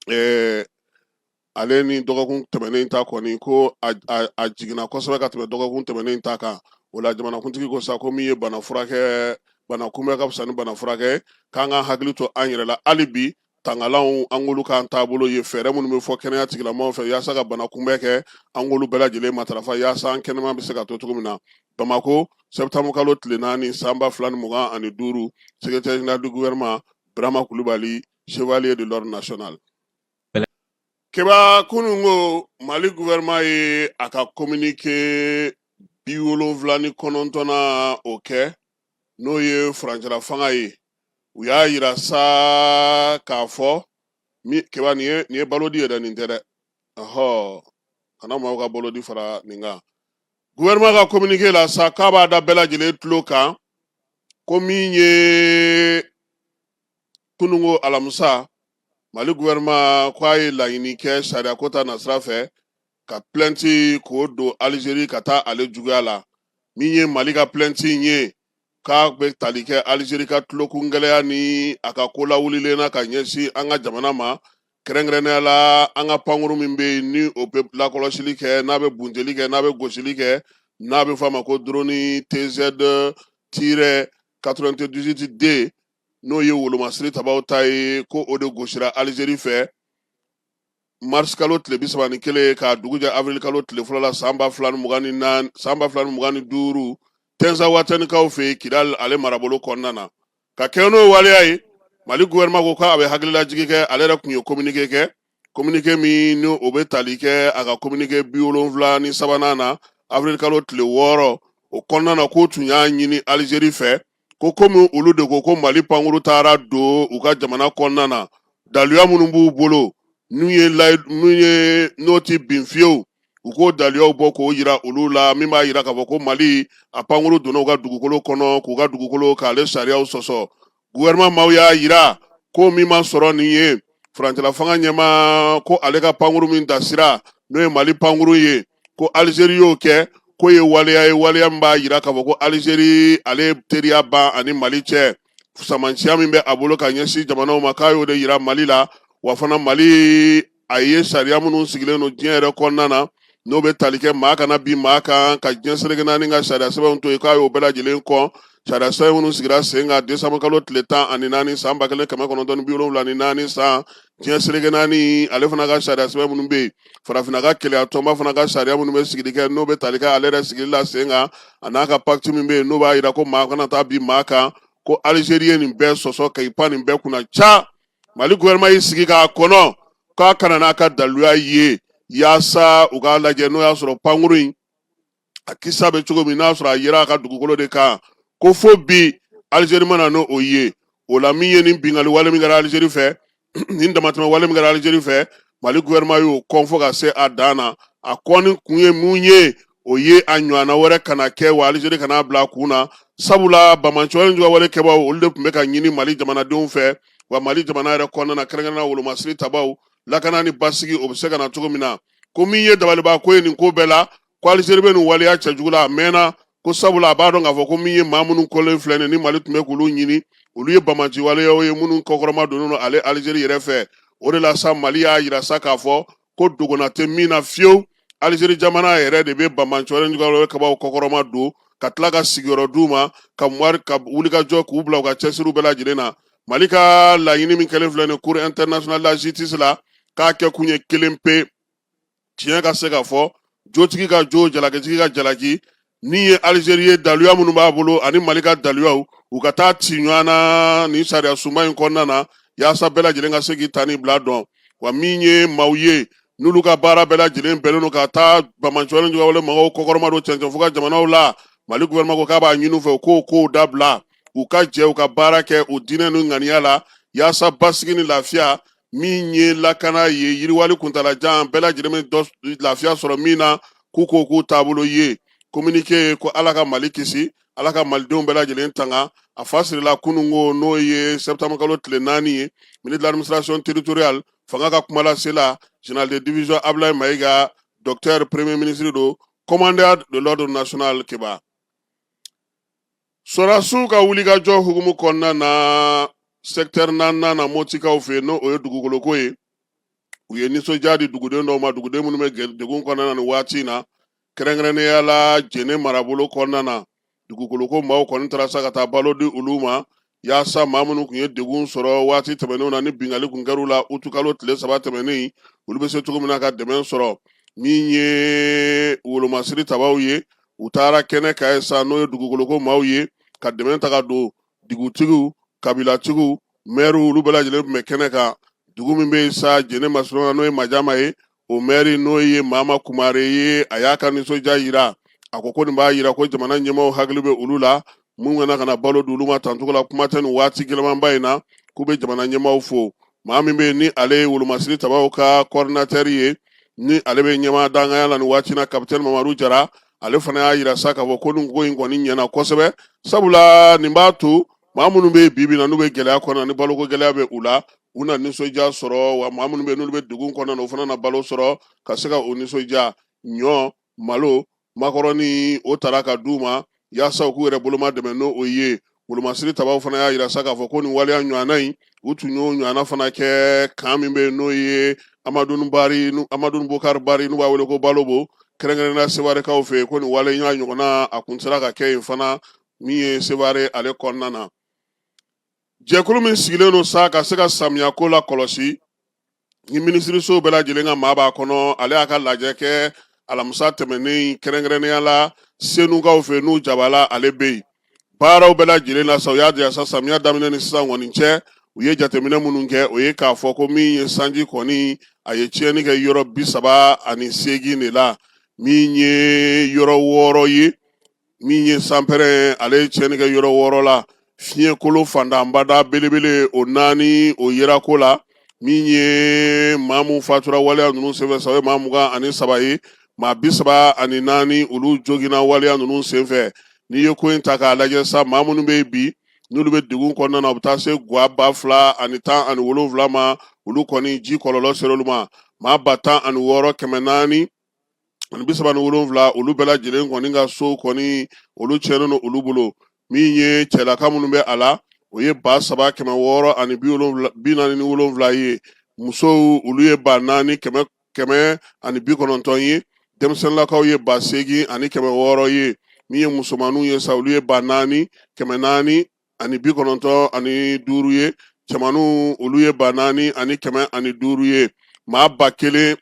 ɛɛ ale ni dɔgɔkun tɛmɛnen ta kɔni ko a jiginna kosɛbɛ ka tɛmɛ dɔgɔkun tɛmɛnen ta kan o la jamanakuntigi ko sa ko min ye bana furakɛ bana kunbɛn ka fisa ni bana furakɛ k'an ka hakili to an yɛrɛ la hali bi tangalanw an k'olu k'an taabolo ye fɛɛrɛ minnu bɛ fɔ kɛnɛya tigilamɔgɔw fɛ yaasa ka bana kunbɛn kɛ an k'olu bɛɛ lajɛlen matarafa yaasa an kɛnɛma bɛ se ka to cogo min na bamako septembre kalo tile naani san ba fila ni mugan ani duuru secrétaire général du gouvernement birama kulubali chevalier de l'ordre national keba kunungo mali gouvernement ye a ka communiqué bi wolonwula ni kɔnɔntɔnnan o kɛ n'o ye furancɛla fanga ye u y'a yira sa k'a fɔ keba nin ye nin ye balodi yɛrɛ nin tɛ dɛ ɔhɔ kana maaw ka balodi fara nin kan gouvernement ka communiqué la sa k'a b'a da bɛɛ lajɛlen tulo kan ko min ye kunungo alamisa mali gouvernement ko a ye laɲini kɛ sariyako ta nasira fɛ ka plɛnti k'o don alizeri ka taa ale juguya la min ye mali ka plɛnti in ye k'a bɛ tali kɛ alizeri ka tulokun gɛlɛya ni a ka ko lawulilen na ka ɲɛsin an ka jamana ma kɛrɛnkɛrɛnnenya la an ka pankuru min bɛ yen ni o bɛ lakɔlɔsili kɛ n'a bɛ bunteli kɛ n'a bɛ gosili kɛ n'a bɛ f'a ma ko droni tz tirɛ 98 d n'o ye wolomasiri tabaw ta ye ko o de gosira alizeri fɛ marisikalo tile bi saba ni kelen k'a dugu jɛ awirilikalo tile fɔlɔ la san ba fila ni mugan ni duuru tɛnzawatɛnikaw fɛ yen kidali ale marabolo kɔnɔna na ka kɛɲɛ n'o waleya ye mali gouvernement ko k'a bɛ hakililajigi kɛ ale yɛrɛ tun ye communiqué kɛ communiqué min ni o bɛ tali kɛ a ka communiqué bi wolonwula ni sabanan na avril kalo tile wɔɔrɔ o kɔnɔna na k'o tun y'a ɲini alizeri fɛ ko komi olu de ko ko mali pankuru taara don u ka jamana kɔnɔna na daluya minnu b'u bolo n'u ye n'u ye n'o ti bin fiyewu u k'o daluyaw bɔ k'o yira olu la min b'a yira k'a fɔ ko mali a pankuru donna u ka dugukolo kɔnɔ k'u ka dugukolo k'ale sariyaw sɔsɔ gouvernement maaw y'a yira ko min ma sɔrɔ nin ye furancɛla fanga ɲɛmaa ko ale ka pankuru min dasira n'o ye mali pankuru ye ko alizeri y'o kɛ k'o ye waleya ye waleya min b'a yira k'a fɔ ko alizeri ale ye teriya ban a ni mali cɛ samansiya min bɛ a bolo ka ɲɛsin jamanaw ma k'a y'o de yira mali la wa fana mali a ye sariya minnu sigilen don diɲɛ yɛrɛ kɔnɔna na n'o bɛ tali kɛ maa kana bin maa kan ka diɲɛ seleke naani ka sariya sɛbɛnw to yen k'a y'o bɛɛ lajɛlen kɔn sariya sɛbɛn minnu sigira sen kan desanburukalo tile tan ani naani san ba kelen kɛmɛ kɔnɔntɔn ni bi wolonwula ni naani san diɲɛ seleke naani ale fana ka sariya sɛbɛn minnu bɛ yen farafinna ka kelenya tɔnba fana ka sariya minnu bɛ sigili kɛ n'o bɛ tali kɛ ale yɛrɛ sigili la sen kan a n'a ka pakiti min bɛ yen n'o b'a yira ko maa kana taa bin maa kan ko alizeri ye nin bɛɛ sɔsɔ ka i pan nin bɛɛ kunna ca mali gouvernement y'i sigi k'a kɔnɔ k'a ka na n'a ka daluya ye yaasa u k'a lajɛ n'o y'a sɔrɔ pankuru in a kisa bɛ cogo min n'a sɔrɔ a yera a ka dugukolo de kan ko fo bi alizeri ma na n'o ye o la min ye nin bingali wale min kɛra alizeri fɛ nin damatɛmɛ wale min kɛra alizeri fɛ mali gouvernement y'o kɔn fo ka se a dan na a kɔni kun ye mun ye o ye a ɲɔgɔnna wɛrɛ kana kɛ wa alizeri kana bila a kun na sabula banbaanci wale jugu wale kɛbaw olu de tun bɛ ka ɲini mali jamanadenw fɛ wa mali jamana yɛrɛ kɔnɔna na kɛrɛnkɛrɛnna wolomasiri tabaw lakana ni basigi o bɛ se ka na cogo min na ko min ye dabaliban ko ye nin ko bɛɛ la ko Algérie bɛ nin waleya cɛjugu la a mɛnna ko sabula a b'a dɔn k'a fɔ ko min ye maa minnu kɔlen filɛ nin ni Mali tun bɛ k'olu ɲini olu ye banbaanci waleyaw ye minnu kɔkɔrɔma donnen don ale Algérie yɛrɛ fɛ o de la sa Mali y'a yira sa k'a fɔ ko dogona tɛ min na fiyewu Algérie jamana yɛrɛ de bɛ banbaanci wale kɛbaw kɔkɔrɔma don ka tila ka sigiyɔrɔ d'u ma ka wulikajɔ k'u bila u ka cɛsiriw bɛɛ lajɛlen na Mali ka laɲini min kɛlen filɛ nin cour internationale de la justice la k'a kɛ kun ye kelen pe tiɲɛ ka se ka fɔ jotigi ka jo jalakitigi ka jalaki min ye alizeri ye daluya minnu b'a bolo ani mali ka daluyaw u ka taa ci ɲɔgɔn na nin sariyasoba in kɔnɔna na yaasa bɛɛ lajɛlen ka se k'i ta ni bila dɔn wa min ye maaw ye n'olu ka baara bɛɛ lajɛlen bɛnnen don ka taa banbaanci juguwale mɔgɔw kɔkɔrɔmadon cɛncɛn fuga jamanaw la mali gouvernement ko k'a b'a ɲini u fɛ u k'o kow dabila u ka jɛ u ka baara kɛ u diinɛ n'u ŋaniya la yaasa basigi ni lafiya min ye lakana ye yiriwali kuntalajan bɛɛ lajɛlen bɛ lafiya sɔrɔ min na k'u ko k'u taabolo ye kominike ye ko ala ka mali kisi ala ka malidenw bɛɛ lajɛlen tanga a fa sirila kunungo n'o ye septembre kalo tile naani ye ministre de l'administration territoriale fanga ka kumalasela general de division ablaye mayiga docteur premier ministre don commandeur de l'ordre national keba Sɔrasiw ka wulikajɔ hukumu kɔnɔna na sɛkitɛri naaninan na motikaw fɛ n'o ye dugukoloko ye u ye nisɔndiya di duguden dɔw ma duguden minnu bɛ degun kɔnɔna na nin waati in na kɛrɛnkɛrɛnnenya la jɛnɛ marabolo kɔnɔna na dugukoloko maaw kɔni taara sa ka taa balo di olu ma yaasa maa minnu tun ye degun sɔrɔ waati tɛmɛnenw na ni binkanni kun kɛr'u la utukalo tile saba tɛmɛnen olu bɛ se cogo min na ka dɛmɛ sɔrɔ min ye wolomasiri tabaw ye u taara kɛnɛ kan yen sa n'o ye dugukoloko maaw ye ka dɛmɛ taga don dugutigiw kabilatigiw mɛriw olu bɛɛ lajɛlen tun bɛ kɛnɛ kan dugu min bɛ yen sa jɛnɛ masurunna n'o ye majama ye o mɛri n'o ye mama kumare ye a y'a ka nisɔndiya jira a ko ko nin b'a jira ko jamana ɲɛmaaw hakili bɛ olu la mun kana ka na balo di olu ma tancogo la kuma tɛ nin waati gɛlɛmanba in na k'u bɛ jamana ɲɛmaaw fo maa min bɛ yen ni ale ye wolomasiri tabaw ka kɔɔridinatɛri ye ni ale bɛ ɲɛmaa dankanya la nin waati na kapitɛni mamadu jara ale fana y'a jira sa k'a fɔ ko nin ko in kɔni ɲɛna kosɛbɛ sabula nin b'a to maa minnu bɛ bi bi na n'u bɛ gɛlɛya kɔnɔ ni baloko gɛlɛya bɛ u la u na nisɔndiya sɔrɔ wa maa minnu bɛ n'olu bɛ degun kɔnɔna u fana na balo sɔrɔ ka se ka o nisɔndiya ɲɔ malo makɔrɔni o taara ka di u ma yaasa u k'u yɛrɛ boloma dɛmɛ n'o ye wolomasiri tabaw fana y'a jira sa k'a fɔ ko nin waleya ɲɔgɔnna in u tun y'o ɲɔgɔnna fana kɛ kan min bɛ n'o ye amadun bari amadun bokari bari n'u b'a wele ko balobo kɛrɛnkɛrɛnnenya sewarekaw fɛ ko nin waleya ɲɔgɔnna a kun sera ka kɛ yen fana min ye seware ale kɔnɔna na jɛkulu min sigilen don sa ka se ka samiyako lakɔlɔsi ni minisirisow bɛɛ lajɛlen ka maa b'a kɔnɔ ale y'a ka lajɛ kɛ alamisa tɛmɛnen kɛrɛnkɛrɛnnenya la senukaw fɛ n'u jabala ale bɛ yen baaraw bɛɛ lajɛlen na sa u y'a jira sa samiya daminɛ ni sisan kɔni cɛ u ye jateminɛ minnu kɛ o ye k'a fɔ ko min ye sanji kɔni a ye tiɲɛni kɛ yɔrɔ bi saba ani seegin de la min ye yɔrɔ wɔɔrɔ ye min ye sanpɛrɛn ale ye tiɲɛni kɛ yɔrɔ wɔɔrɔ la fiɲɛkolo fantanbada belebele o naani o yera ko la min ye maa min fatura waleya ninnu senfɛ sa o ye maa mugan ani saba ye maa bi saba ani naani olu joginna waleya ninnu senfɛ n'i ye ko in ta k'a lajɛ sa maa minnu bɛ yen bi n'olu bɛ degun kɔnɔna na u bɛ taa se gwa ba fila ani tan ani wolonwula ma olu kɔni ji kɔlɔlɔ ser'olu ma maa ba tan ani wɔɔrɔ kɛmɛ naani ani bi saba ni wolonwula olu bɛɛ lajɛlen kɔni ka sow kɔni olu tiɲɛnen don olu bolo min ye cɛlaka minnu bɛ a la o ye ba saba kɛmɛ wɔɔrɔ ani bi wolonwula bi naani ni wolonwula ye musow olu ye ba naani kɛmɛ kɛmɛ ani bi kɔnɔntɔn ye denmisɛnninlakaw ye ba seegin ani kɛmɛ wɔɔrɔ ye min ye musomanninw ye sa olu ye ba naani kɛmɛ naani ani bi kɔnɔntɔn ani duuru ye cɛmanninw olu ye ba naani ani kɛmɛ ani duuru ye maa ba kelen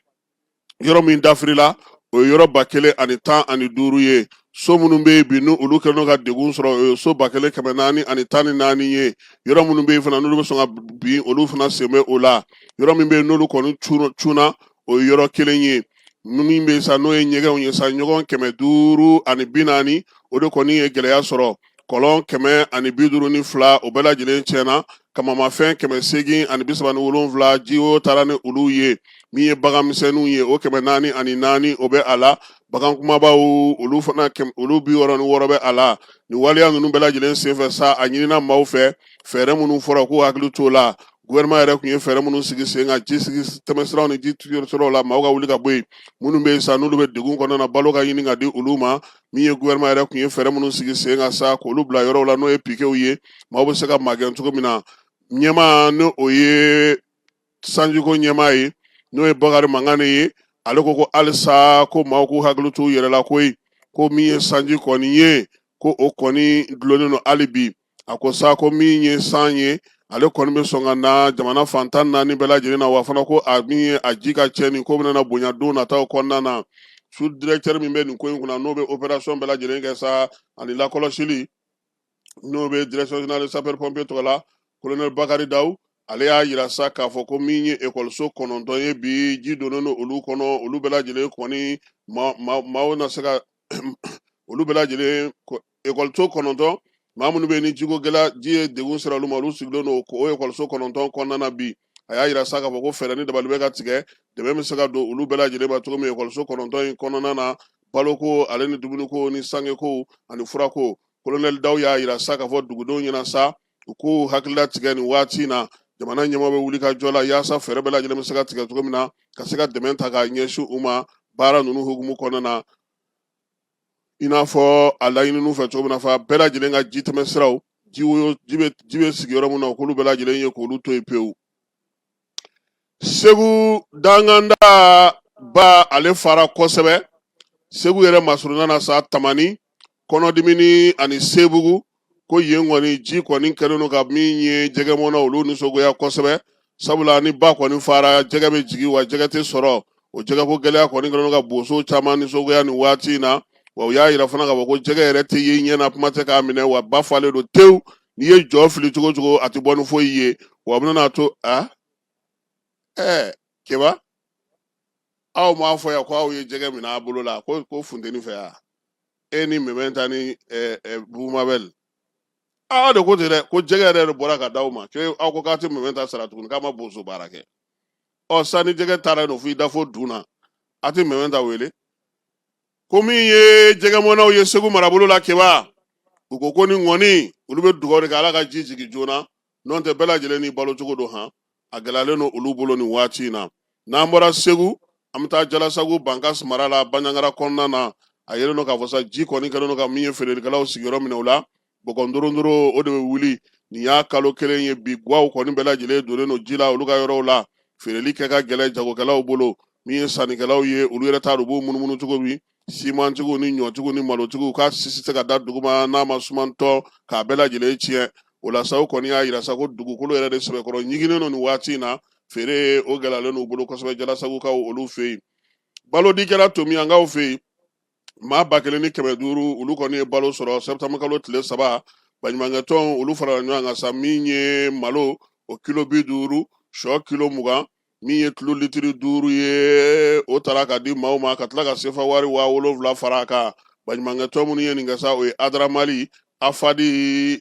yɔrɔ min dafirila o ye yɔrɔ ba kelen ani tan ani duuru ye so minnu bɛ yen bi n'olu kɛlen don ka degun sɔrɔ o ye so ba kelen kɛmɛ naani ani tan ni naani ye yɔrɔ minnu bɛ yen fana n'olu bɛ sɔn ka bin olu fana sen bɛ o la yɔrɔ min bɛ yen n'olu kɔni cunna o ye yɔrɔ kelen ye min bɛ yen sa n'o ye ɲɛgɛnw ye sa ɲɔgɔn kɛmɛ duuru ani bi naani o de kɔni ye gɛlɛya sɔrɔ kɔlɔn kɛmɛ ani bi duuru ni fila o bɛɛ lajɛlen tiɲɛna kamamafɛn kɛmɛ seegin ani bi saba ni wolonwula ji woyo taara ni olu ye min ye bagan misɛnninw ye o kɛmɛ naani ani naani o bɛ a la bagan kumabaw olu fana olu bi wɔɔrɔ ni wɔɔrɔ bɛ a la nin waleya ninnu bɛɛ lajɛlen senfɛ sa a ɲinina maaw fɛ fɛɛrɛ minnu fɔra k'u hakili t'o la gouvernement yɛrɛ tun ye fɛɛrɛ minnu sigi sen kan ji sigi tɛmɛsiraw ni ji siraw la maaw ka wuli ka bɔ yen minnu bɛ yen sa n'olu bɛ degun kɔnɔna na balo ka ɲini ka di olu ma min ye gouvernement yɛrɛ tun ye fɛɛrɛ minnu sigi sen kan sa k'olu bila yɔrɔw la n'o ye pikew ye maaw bɛ se ka magɛn cogo min na ɲɛmaa ni o ye sanjiko ɲɛmaa ye n'o ye bakari mangane ye ale ko ko halisa ko maaw k'u hakili t'u yɛrɛ la koyi ko min ye sanji kɔni ye ko o kɔni dulonnen don hali bi a ko sa ko min ye san ye ale kɔni bɛ sɔn ka na jamana fan tan ni naani bɛɛ lajɛlen na wa fana ko a min ye a ji ka tiɲɛni ko bɛna bonya don nataw kɔnɔna na sous-directeur min bɛ nin ko in kunna n'o bɛ opération bɛɛ lajɛlen kɛ sa ani lakɔlɔsili n'o bɛ direction générale de sapeur pompier tɔgɔ la colonel bakari daw ale y'a yira sa k'a fɔ ko min ye ekɔliso kɔnɔntɔn ye bi ji donnen don olu kɔnɔ olu bɛɛ lajɛlen kɔni maaw na se ka olu bɛɛ lajɛlen ekɔliso kɔnɔntɔn maa minnu bɛ yen ni jiko gɛlɛya ji ye degun sera olu ma olu sigilen don o ekɔliso kɔnɔntɔn kɔnɔna na bi a y'a yira sa k'a fɔ ko fɛɛrɛ ni dabali bɛ ka tigɛ dɛmɛ bɛ se ka don olu bɛɛ lajɛlen ma cogo min ekɔliso kɔnɔntɔn in kɔnɔna na baloko ale ni dumuniko ni sangeko ani furako kolonɛli daw y'a yira sa k'a fɔ dugudenw ɲɛ na sa u k'u hakili latigɛ nin waati in na jamana ɲɛmaaw bɛ wulikajɔ la yaasa fɛɛrɛ bɛɛ lajɛlen bɛ se ka tigɛ cogo min na ka se ka dɛmɛ ta k'a ɲɛsin u ma baara ninnu hukumu kɔnɔna na i n'a fɔ a laɲinin'u fɛ cogo min na fa bɛɛ lajɛlen ka ji tɛmɛ siraw ji woyo ji bɛ ji bɛ sigi yɔrɔ min na k'olu bɛɛ lajɛlen ye k'olu to yen pewu segu danganda ba ale fara kosɛbɛ segu yɛrɛ masurunna na sa tamani kɔnɔdimini ani sebugu ko yen kɔni ji kɔni kɛlen don ka min ye jɛgɛmɔna olu nisɔngoya kosɛbɛ sabula ni ba kɔni fara jɛgɛ bɛ jigin wa jɛgɛ tɛ sɔrɔ o jɛgɛko gɛlɛya kɔni kɛlen don ka boso caman nisɔngoya nin waati in na wa u y'a yira fana k'a fɔ ko jɛgɛ yɛrɛ tɛ ye ɲɛna kuma tɛ k'a minɛ wa ba falen don tewu n'i ye jɔ fili cogo o cogo a tɛ bɔ ni foyi ye wa a bɛna to a ɛɛ keba aw m'a fɔ yan ko aw ye jɛgɛ minɛ aw bolo la ko ko funteni fɛ yan e ni mɛmɛnta ni bumabɛl aw de ko ten dɛ ko jɛgɛ yɛrɛ de bɔra ka d'aw ma ke aw ko k'a tɛ mɛmɛnta sara tuguni k'a ma boso baara kɛ ɔ sani jɛgɛ taara no fo i da fo dun na a tɛ mɛmɛnta wele ko min ye jɛgɛmɔnaw ye segu marabolo la keba u ko ko ni ŋɔni olu bɛ dugawu de kɛ ala ka ji jigin joona nɔntɛ bɛɛ lajɛlen n'i balo cogo don han a gɛlɛyalen don olu bolo nin waati in na n'an bɔra segu an bɛ taa jalasagu bankasi mara la banjagara kɔnɔna na a yelen don k'a fɔ sa ji kɔni kɛlen don ka min ye feerelikɛlaw sigiyɔrɔ minɛ o la bɔgɔndorondoro o de bɛ wuli nin y'a kalo kelen ye bi gaw kɔni bɛɛ lajɛlen donnen don ji la olu ka yɔrɔw la feereli kɛ ka gɛlɛn jagokɛlaw bolo min ye sannikɛlaw ye olu yɛrɛ t'a dɔn u b'u munumunu cogo min simantigiw ni ɲɔtigiw ni malotigiw ka si si tɛ se ka da duguma n'a ma sumantɔ k'a bɛɛ lajɛlen tiɲɛ o la sa u kɔni y'a yira sa ko dugukolo yɛrɛ de sɛbɛkɔrɔ ɲiginnen don nin waati in na feere o gɛlɛyalen n'u bolo kosɛbɛ jalasagukaw olu fɛ yen balodi kɛra tomiyankaw fɛ yen maa ba kelen ni kɛmɛ duuru olu kɔni ye balo sɔrɔ sɛtanburukalo tile saba baɲumankɛtɔn olu farala ɲɔgɔn kan sa min ye malo o kilo bi duuru sɔ kilo mugan min ye tulu litiri duuru ye o taara ka di maaw ma ka tila ka sefa wari waa wolonwula fara a kan baɲumankɛtɔn minnu ye nin kɛ sa o ye adra mali afadi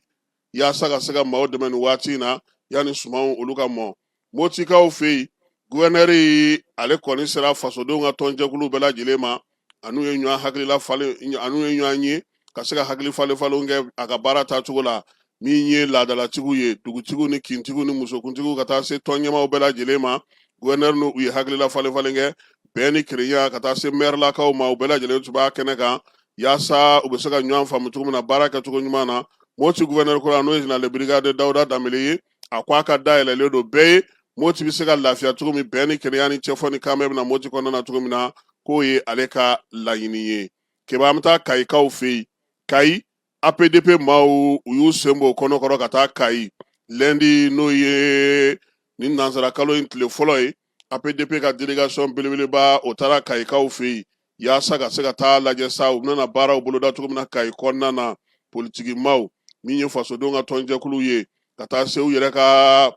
yaasa ka se ka maaw dɛmɛ nin waati in na yanni sumanw olu ka mɔ motikaw fɛ yen guwɛnɛri ale kɔni sera fasodenw ka tɔnjɛkulu bɛɛ lajɛlen ma a n'u ye ɲɔgɔn hakilila falen a n'u ye ɲɔgɔn ye ka se ka hakili falen falen kɛ a ka baara ta cogo la min ye laadalatigiw ye dugutigiw ni kintigiw ni musokuntigiw ka taa se tɔn ɲɛmaaw bɛɛ lajɛlen ma guwɛnɛri n'u ye hakilila falen falen kɛ bɛn ni kelenya ka taa se mɛrilakaw ma u bɛɛ lajɛlen tun b'a kɛnɛ kan yaasa u bɛ se ka ɲɔgɔn faamu cogo min na baara kɛcogo ɲuman na moti guwɛnɛri kura n'o ye jenerali brigade dawuda danbele ye a ko a ka da yɛlɛlen don bɛɛ ye moti bɛ se ka lafiya cogo min bɛn ni kelenya ni cɛfɔ ni kanbɛn bɛ na moti kɔnɔna na cogo min na k'o ye ale ka laɲini ye keba an bɛ taa kayikaw fɛ yen kayi apdp maaw u y'u sen bɔ u kɔnɔ kɔrɔ ka taa kayi lɛndi n'o ye nin nansarakalo in tile fɔlɔ ye apdp ka delegation belebeleba o taara kayikaw fɛ yen yaasa ka se ka taa lajɛ sa u bɛna baaraw boloda cogo min na kayi kɔnɔna na politiki maaw min ye fasodenw ka tɔnjɛkuluw ye ka taa se u yɛrɛ ka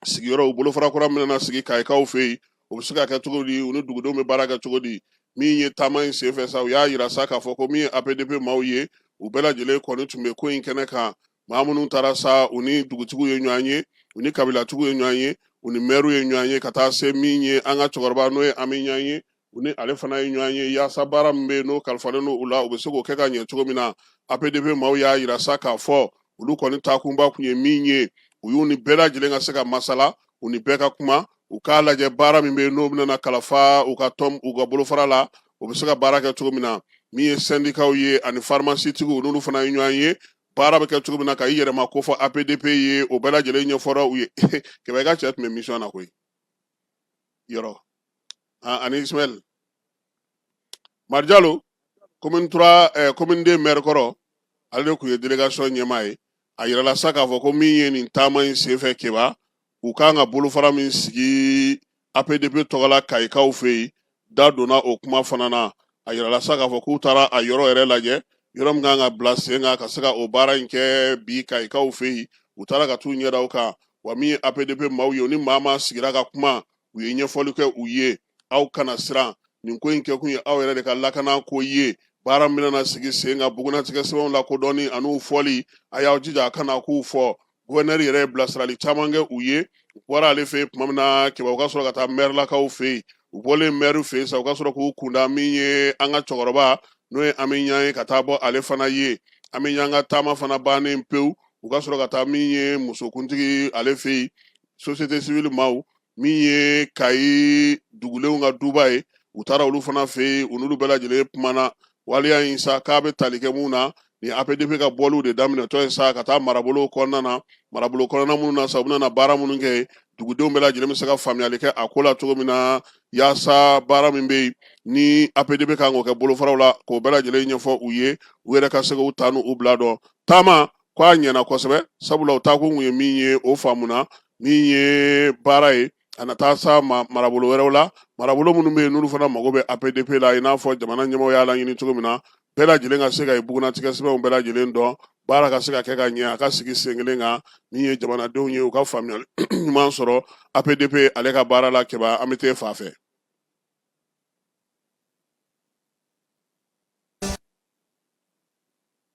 sigiyɔrɔ u bolofara kura bɛna sigi kayikaw fɛ yen o bɛ se ka kɛ cogo di u ni dugudenw bɛ baara kɛ cogo di min ye taama in senfɛ sa u y'a yira sa k'a fɔ ko min ye apdp maaw ye u bɛɛ lajɛlen kɔni tun bɛ ko in kɛnɛ kan maa minnu taara sa u ni dugutigiw ye ɲɔgɔn ye u ni kabilatigiw ye ɲɔgɔn ye u ni mɛriw ye ɲɔgɔn ye ka taa se min ye an ka cɛkɔrɔba n'o ye ami ɲan ye u ni ale fana ye ɲɔgɔn ye yaasa baara min bɛ yen n'o kalifalen don u la u bɛ se k'o kɛ ka ɲɛ cogo min na apdp maaw y'a yira sa k'a fɔ olu kɔni taakunba tun ye min ye u y'u ni bɛɛ lajɛlen ka se ka masala u ni bɛɛ ka kuma u k'a lajɛ baara min bɛ yen n'o bɛna kalifa u ka tɔn u ka bolofara la u bɛ se ka baara kɛ cogo min na min ye sɛndikaw ye ani farimasitigiw n'olu fana ye ɲɔgɔn ye baara bɛ kɛ cogo min na ka i yɛrɛ mako fɔ apdp ye o bɛɛ lajɛlen ɲɛfɔra u ye kɛba i ka cɛ tun bɛ mission na koyi yɔrɔ ani ismaɛl mari jalo commune trois eh, commune deux maire kɔrɔ ale de tun ye délégation ɲɛmaa ye a yirala sa k'a fɔ ko min ye nin taama in senfɛ kɛba u kan ka bolofara min sigi apdp tɔgɔla kayikaw fɛ yen da donna o kuma fana na a yirala sa k'a fɔ k'u taara a yɔrɔ yɛrɛ lajɛ yɔrɔ min kan ka bila sen kan ka se ka o baara in kɛ bi kayikaw fɛ yen u taara ka t'u ɲɛ da u kan wa min ye apdp maaw ye u ni maa maa sigira ka kuma u ye ɲɛfɔli kɛ u ye aw kana siran nin ko in kɛkun ye aw yɛrɛ de ka lakana ko ye baara min bɛna sigi sen kan bugunnatigɛ sɛbɛnw lakodɔnni an'u fɔli a y'aw jija a kana k'u fɔ guvɛnɛri yɛrɛ ye bilasirali caman kɛ u ye u bɔra ale fɛ yen tuma min na kɛba u ka sɔrɔ ka taa mɛrilakaw fɛ yen u bɔlen mɛriw fɛ yen sa u ka sɔrɔ k'u kunda min ye an ka cɛkɔrɔba n'o ye ami ɲan ye ka taa bɔ ale fana ye ami ɲan ka taama fana bannen pewu u ka sɔrɔ ka taa min ye musokuntigi ale fɛ yen société civile maaw min ye kayi dugulenw ka duba ye u taara olu fana fɛ yen u n'olu bɛɛ lajɛlen kumana waleya in sa k'a bɛ tali kɛ mun na ni APDP ka bɔliw de daminɛtɔ ye sa ka taa marabolow kɔnɔna na marabolo kɔnɔna minnu na sa u bɛna baara minnu kɛ dugudenw bɛɛ lajɛlen bɛ se ka faamuyali kɛ a ko la cogo min na yaasa baara min bɛ yen ni APDP kan k'o kɛ bolofaraw la k'o bɛɛ lajɛlen ɲɛfɔ u ye u yɛrɛ ka se k'u ta n'u bila dɔn taama k'a ɲɛna kosɛbɛ sabula u taakun tun ye min ye o faamuna min ye baara ye a na taa sa ma marabolo wɛrɛw la marabolo minnu bɛ yen n'olu fana mago bɛ apdp la i n'a fɔ jamana ɲɛmɔgɔ y'a laɲini cogo min na bɛɛ lajɛlen ka se ka i bugunnatigɛ sɛbɛnw bɛɛ lajɛlen dɔn baara ka se ka kɛ ka ɲɛ a ka sigi sen kelen kan min ye jamanadenw ye u ka faamuyali ɲuman sɔrɔ apdp ale ka baara la kɛba an bɛ t'e fa fɛ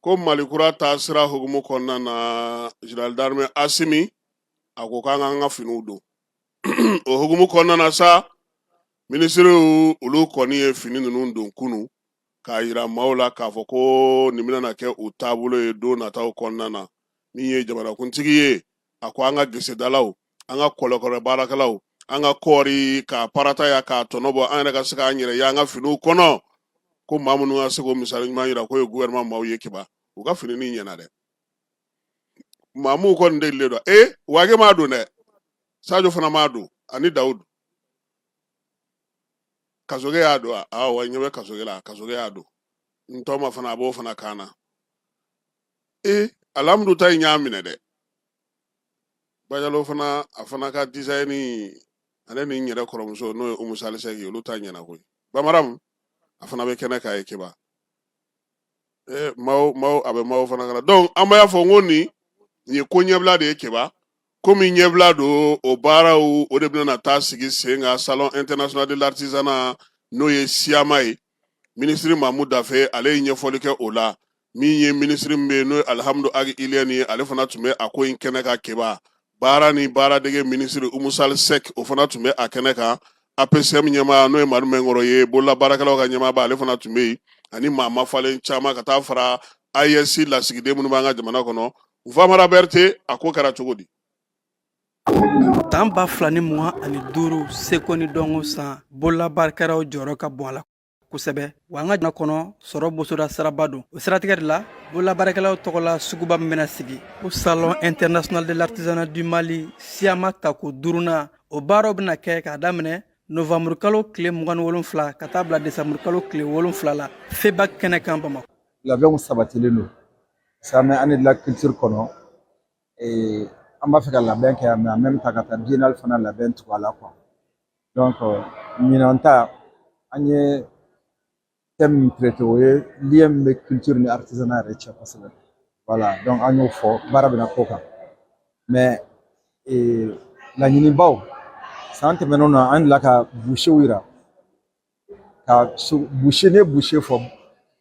ko mali kura taasira hukumu kɔnɔna na général d'armée asimi a ko k'an k'an ka finiw don o hukumu kɔnɔna na sa minisiriw olu kɔni ye fini ninnu don kunun k'a yira maaw la k'a fɔ ko nin bɛna kɛ u taabolo ye don nataw kɔnɔna na min ye jamanakuntigi ye a ko an ka gesedalaw an ka kɔlɔkɔlɔ baarakɛlaw an ka kɔɔri ka parata ya k'a tɔnɔ bɔ an yɛrɛ ka se k'an yɛrɛ ye an ka finiw kɔnɔ ko maa minnu ka se k'o misali ɲuman yira k'o ye gouvernement maaw ye keba u ka fini nin ɲɛna dɛ maamu kɔni delilen don eh, wage m'a don dɛ sajo fana m'a don ani dawudu kasoge y'a don a ah, wa ɲɛ bɛ kasoge la kasoge y'a don n tɔma fana a b'o fana kan na e eh, alihamudu ta in y'a minɛ dɛ bajalo fana a fana ka dizayini ale ni n yɛrɛ kɔrɔmuso n'o ye umu salisɛki olu ta ɲɛna koyi bamaramu a fana bɛ kɛnɛ kan yen keba eh, maaw maaw a bɛ maaw fana kan na donc an b'a fɔ n ko nin nin ye ko ɲɛbila de ye keba komi ɲɛbila don o baaraw o de bɛna taa sigi sen kan salon international de l'artisanat n'o ye siyama ye minisiri maamu dafe ale ye ɲɛfɔli kɛ o la min ye minisiri min bɛ yen n'o ye alihamudu agi iliyɛni ye ale fana tun bɛ a ko in kɛnɛ kan keba baara ni baaradege minisiri umu salisɛki o fana tun bɛ a kɛnɛ kan APCM ɲɛmaa n'o ye madu mɛnkɔrɔ ye bolola baarakɛlaw ka ɲɛmaaba ale fana tun bɛ yen ani maa mafalen caman ka taa fara AES lasigiden minnu b'an ka jamana kɔnɔ Famara Berete a ko kɛra cogo di san ba fila ni mugan ani duuru seko ni dɔnko san bololabaarakɛlaw jɔyɔrɔ ka bon a la kosɛbɛ wa an ka jamana kɔnɔ sɔrɔ bosoda siraba don o siratigɛ de la bololabaarakɛlaw tɔgɔla suguba min bɛna sigi ko salon international de l'artisanat du mali siyama tako duurunan o baaraw bɛna kɛ k'a daminɛ novanburu kalo tile mugan ni wolonfila ka taa bila desanburu kalo tile wolonfila la feba kɛnɛ kan bamakɔ labɛnw sabatilen don siyama année de la culture kɔnɔ Ee an b'a fɛ ka labɛn kɛ yan mais en même temps ka taa biennale fana labɛn tugu a la quoi donc ɲinan ta an ye thème min traité o ye lien min bɛ culture ni artisanat yɛrɛ cɛ kosɛbɛ voilà donc an y'o fɔ baara bɛna k'o kan mais ee laɲinibaw san tɛmɛnenw na an delila ka boucherw yira ka so boucher n'i ye boucher fɔ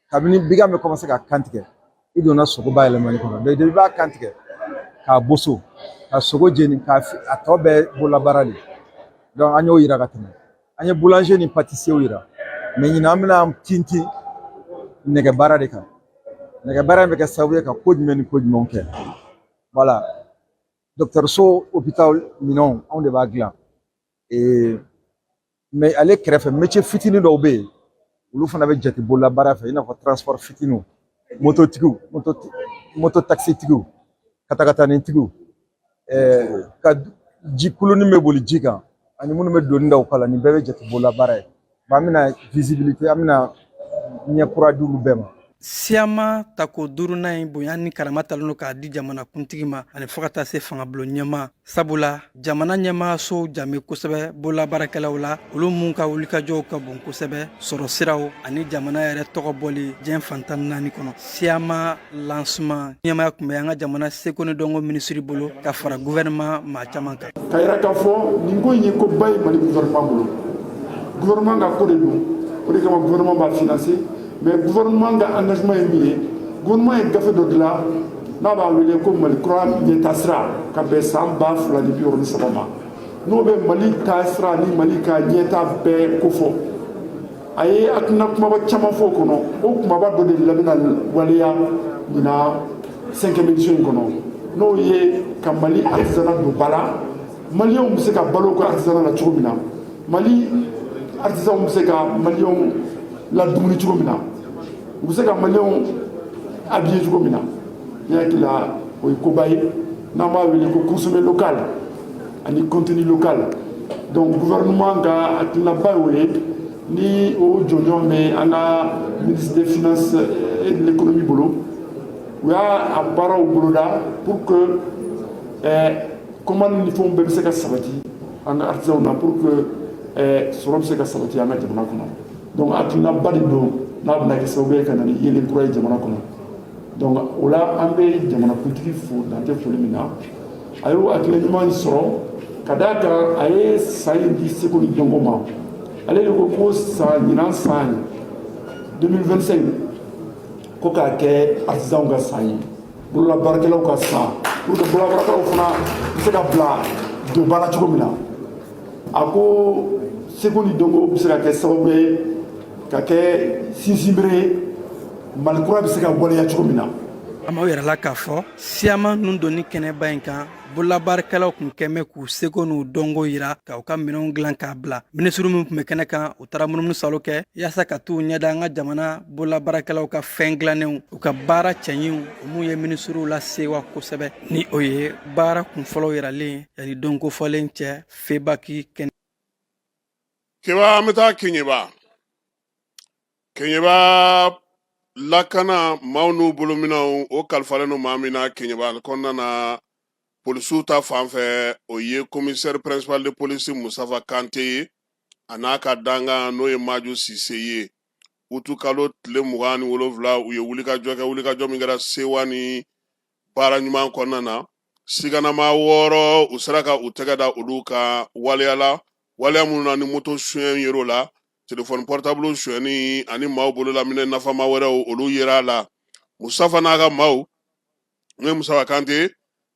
kabini bigan bɛ commencer ka kan tigɛ i donna sogo bayɛlɛmali kɔnɔ donc i b'a kan tigɛ k'a boso ka sogo jeni k'a a tɔ bɛɛ bololabaara de don an y'o yira ka tɛmɛ an ye boulanger ni pâtissier yira mais ɲinan an bɛna tintin nɛgɛ baara de kan nɛgɛ baara in bɛ kɛ sababu ye ka ko jumɛn ni ko jumɛnw kɛ voilà dɔgɔtɔrɔso hôpital minɛnw anw de b'a dilan mais ale kɛrɛfɛ métier fitinin dɔw bɛ yen olu fana bɛ jate bolola baara fɛ i n'a fɔ transport fitininw mototigiw mototakisitigiw katakatanitigiw ka ji kulunin bɛ boli ji kan ani minnu bɛ doni da u kan na nin bɛɛ bɛ jate bolola baara ye An bɛna visibilité an bɛna ɲɛ kura di olu bɛɛ ma. SIAMA tako duurunan in bonya ni karama talen don k'a di jamanakuntigi ma ani fo ka taa se fangabulon ɲɛmaa sabula jamana ɲɛmaasow jan bɛ kosɛbɛ bololabaarakɛlaw la olu minnu ka wulikajɔw ka bon kosɛbɛ sɔrɔ siraw ani jamana yɛrɛ tɔgɔ bɔli diɲɛ fan tan naani kɔnɔ SIAMA lancement ɲɛmaaya tun bɛ an ka jamana seko ni dɔnko minisiri bolo ka fara gouvernement maa caman kan ka yira k'a fɔ nin ko in ye ko ba ye mali gouvernement bolo gouvernement ka ko de don o de kama gouvernement b'a financer mais gouvernement ka engagement ye min ye gouvernement ye gafe dɔ dilan n'a b'a wele ko mali kura ɲɛtaasira ka bɛn san ba fila ni bi wɔɔrɔ ni saba ma n'o bɛ mali taasira ni mali ka ɲɛtaa bɛɛ kofɔ a ye hakilina kumaba caman fɔ o kɔnɔ o kumaba dɔ de la bɛna waleya ɲinan cinquième édition in kɔnɔ n'o ye ka mali artisanat don ba la maliyɛnw bɛ se ka balo u ka artisanat la cogo min na mali artisanw bɛ se ka maliyɛnw ladumuni cogo min na u bɛ se ka maliyɛnw habiller cogo min na ne hakili la o ye koba ye n'an b'a wele ko consommer local ani contenu local donc gouvernement ka hakilinaba y'o ye ni o jɔnjɔn bɛ an ka ministre des finances et de l'économie bolo u y'a a baaraw boloda pour que eh, commande ni fɛnw bɛɛ bɛ se ka sabati an ka artisanw na pour que eh, sɔrɔ bɛ se ka sabati an ka jamana kɔnɔ donc hakilinaba de don n'a bɛna kɛ sababu ye ka na ni yeelen kura ye jamana kɔnɔ Donc o la an bɛ jamanakuntigi fo dan tɛ foli min na a ye hakilina ɲuman in sɔrɔ ka d'a kan a ye san in di seko ni dɔnko ma ale de ko ko san ɲinan san 2025 ko k'a kɛ artisanw ka san ye bololabaarakɛlaw ka san pour que bololabaarakɛlaw fana bɛ se ka bila don ba la cogo min na a ko seko ni dɔnko bɛ se ka kɛ sababu ye ka kɛ sinsinbere ye mali kura bɛ se ka waleya cogo min na an b'o yira aw la k'a fɔ SIAMA nundonni kɛnɛba in kan bololabaarakɛlaw tun kɛmɛ k'u seko n'u dɔnko yira ka u ka minɛnw dilan k'a bila minisiri minnu tun bɛ kɛnɛ kan u taara munumunusaalo kɛ yaasa ka t'u ɲɛ da an ka jamana bololabaarakɛlaw ka fɛn dilannenw u ka baara cɛɲiw o minnu ye minisiriw lasewa kosɛbɛ ni o ye baara kunfɔlɔw yiralen yani don kofɔlen cɛ FEBAK kɛnɛ kan ayiwa an bɛ taa keɲeba keɲɛba lakana maaw n'u bolominɛw o kalifalen don maa min na keɲɛba kɔnɔna na polisiw ta fan fɛ o ye komisɛri pɛrɛnsipali de polisi musafa kante ye a n'a ka dankan n'o ye maju sise ye utu kalo tile mugan ni wolonwula u ye wulikajɔ kɛ wulikajɔ min kɛra sewa ni baara ɲuman kɔnɔna na siganama wɔɔrɔ u sera ka u tɛgɛ da olu kan waleya la waleya minnu na ni moto suyɛn yer'o la telefɔni pɔrɔtabulu suyɛnni ani maaw bololaminɛ nafama wɛrɛw olu yer'a la musafa n'a ka maaw n'o ye musafa kante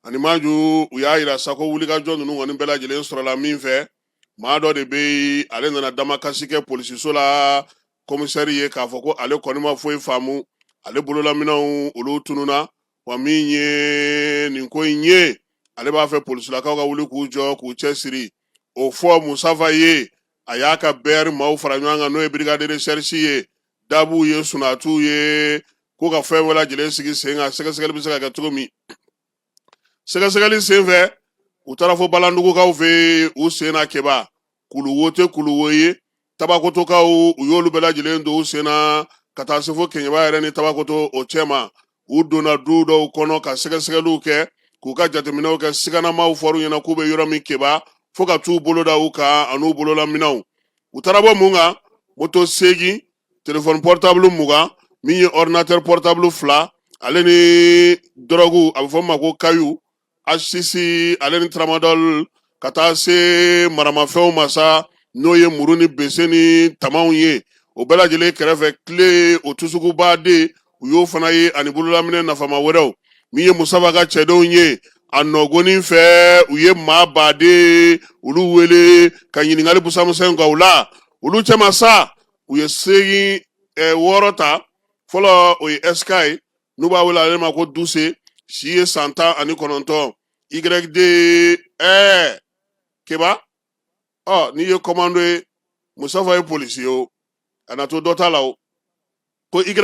ani maju u y'a yira sa ko wulikajɔ ninnu kɔni bɛɛ lajɛlen sɔrɔla min fɛ maa dɔ de bɛ yen ale nana damakasi kɛ polisiso la komisɛri ye k'a fɔ ko ale kɔni ma foyi faamu ale bololaminɛw olu tununna wa min ye nin ko in ye ale b'a fɛ polisilakaw ka wuli k'u jɔ k'u cɛ siri o fɔ musafa ye a y'a ka bɛɛri maaw fara ɲɔgɔn kan n'o ye birigadi de resɛrisi ye dabuw ye sunatuw ye ko ka fɛn bɛɛ lajɛlen sigi sen kan sɛgɛsɛgɛli bɛ se ka kɛ cogo min sɛgɛsɛgɛli senfɛ u taara fo balandugukaw fɛ u senna keba kulu wo tɛ kulu wo ye tabakotokaw u y'olu bɛɛ lajɛlen don u senna ka taa se fo keɲɛba yɛrɛ ni tabakoto o cɛma u donna du dɔw kɔnɔ ka sɛgɛsɛgɛliw kɛ k'u ka jateminɛw kɛ siganamaw fɔr'u ɲɛna k'u bɛ yɔrɔ min keba fo ka t'u bolo da u kan an'u bololaminɛw u taara bɔ mun kan moto seegin telefɔni pɔrɔtabulu mugan min ye ɔrdinatɛri pɔrɔtabulu fila ale ni dɔrɔgu a bɛ fɔ o ma ko kayu asisi ale ni taramadɔli ka taa se maramafɛnw ma sa n'o ye muru ni bese ni tamaw ye o bɛɛ lajɛlen kɛrɛfɛ tile o tusukubaden u y'o fana ye ani bololaminɛ nafama wɛrɛw min ye musafa ka cɛdenw ye a nɔgɔnni fɛ u ye maa baden olu wele ka ɲininkali busa misɛn k'u la olu cɛma sa u ye seegin eh, wɔɔrɔ ta fɔlɔ o ye sk ye n'u b'a wele ale ma ko duse si ye san tan ani kɔnɔntɔn yd ɛɛ keba ɔ n'i ye kɔmando ye musafa ye polisi ye o a na to dɔ ta la o ko yd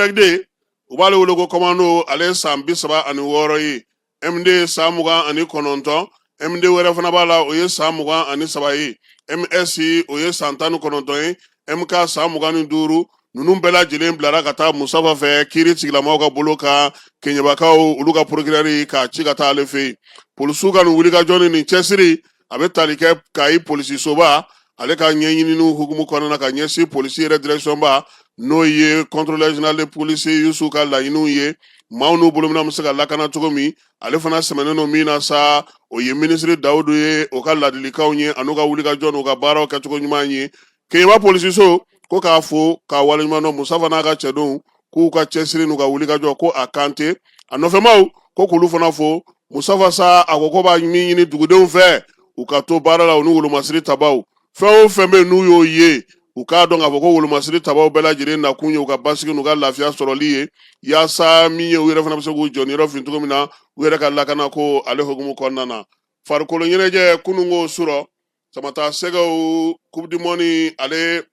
u b'ale wele ko kɔmando ale ye san bi saba ani wɔɔrɔ ye md ye san mugan ani kɔnɔntɔn md wɛrɛ fana b'a la o ye san mugan ani saba ye ms o ye san tan ni kɔnɔntɔn ye mk san mugan ni duuru ninnu bɛɛ lajɛlen bilara ka taa musafa fɛ kiiri tigilamaw ka bolo kan keɲɛbakaw olu ka porokirɛri k'a ci ka taa ale fɛ yen polisiw ka nin wulikajɔ ni nin cɛsiri a bɛ tali kɛ kayi polisisoba ale ka ɲɛɲininiw hukumu kɔnɔna ka ɲɛsin polisi yɛrɛ dirɛkisiyɔnba n'o ye kɔntorolɛri zenerali de polisi yusu ka laɲiniw ye maaw n'u bolominɛw bɛ se ka lakana cogo min ale fana sɛmɛnen don min na sa o ye minisiri dawudu ye o ka ladilikanw ye an'u ka wulikajɔ n'u ka baaraw kɛcogo ɲuman ye keɲɛba polisiso ko k'a fo k'a waleɲuman dɔn musafa n'a ka cɛdenw k'u ka cɛsiri n'u ka wulikajɔ ko a kan tɛ a nɔfɛmaw ko k'olu fana fo musafa sako ko b'a min ɲini dugudenw fɛ u ka to baara la u ni wolomasiri tabaw fɛn o fɛn bɛ yen n'u y'o ye u k'a dɔn k'a fɔ ko wolomasiri tabaw bɛɛ lajɛlen nakun ye u ka basigi n'u ka lafiya sɔrɔli ye yaasa min ye u yɛrɛ fana bɛ se k'u jɔniyɔrɔ fin cogo min na u yɛrɛ ka lakana ko ale hokumu kɔnɔna na farikolo ɲɛnajɛ kununko surɔ samata sɛgɛw coupe du monde ale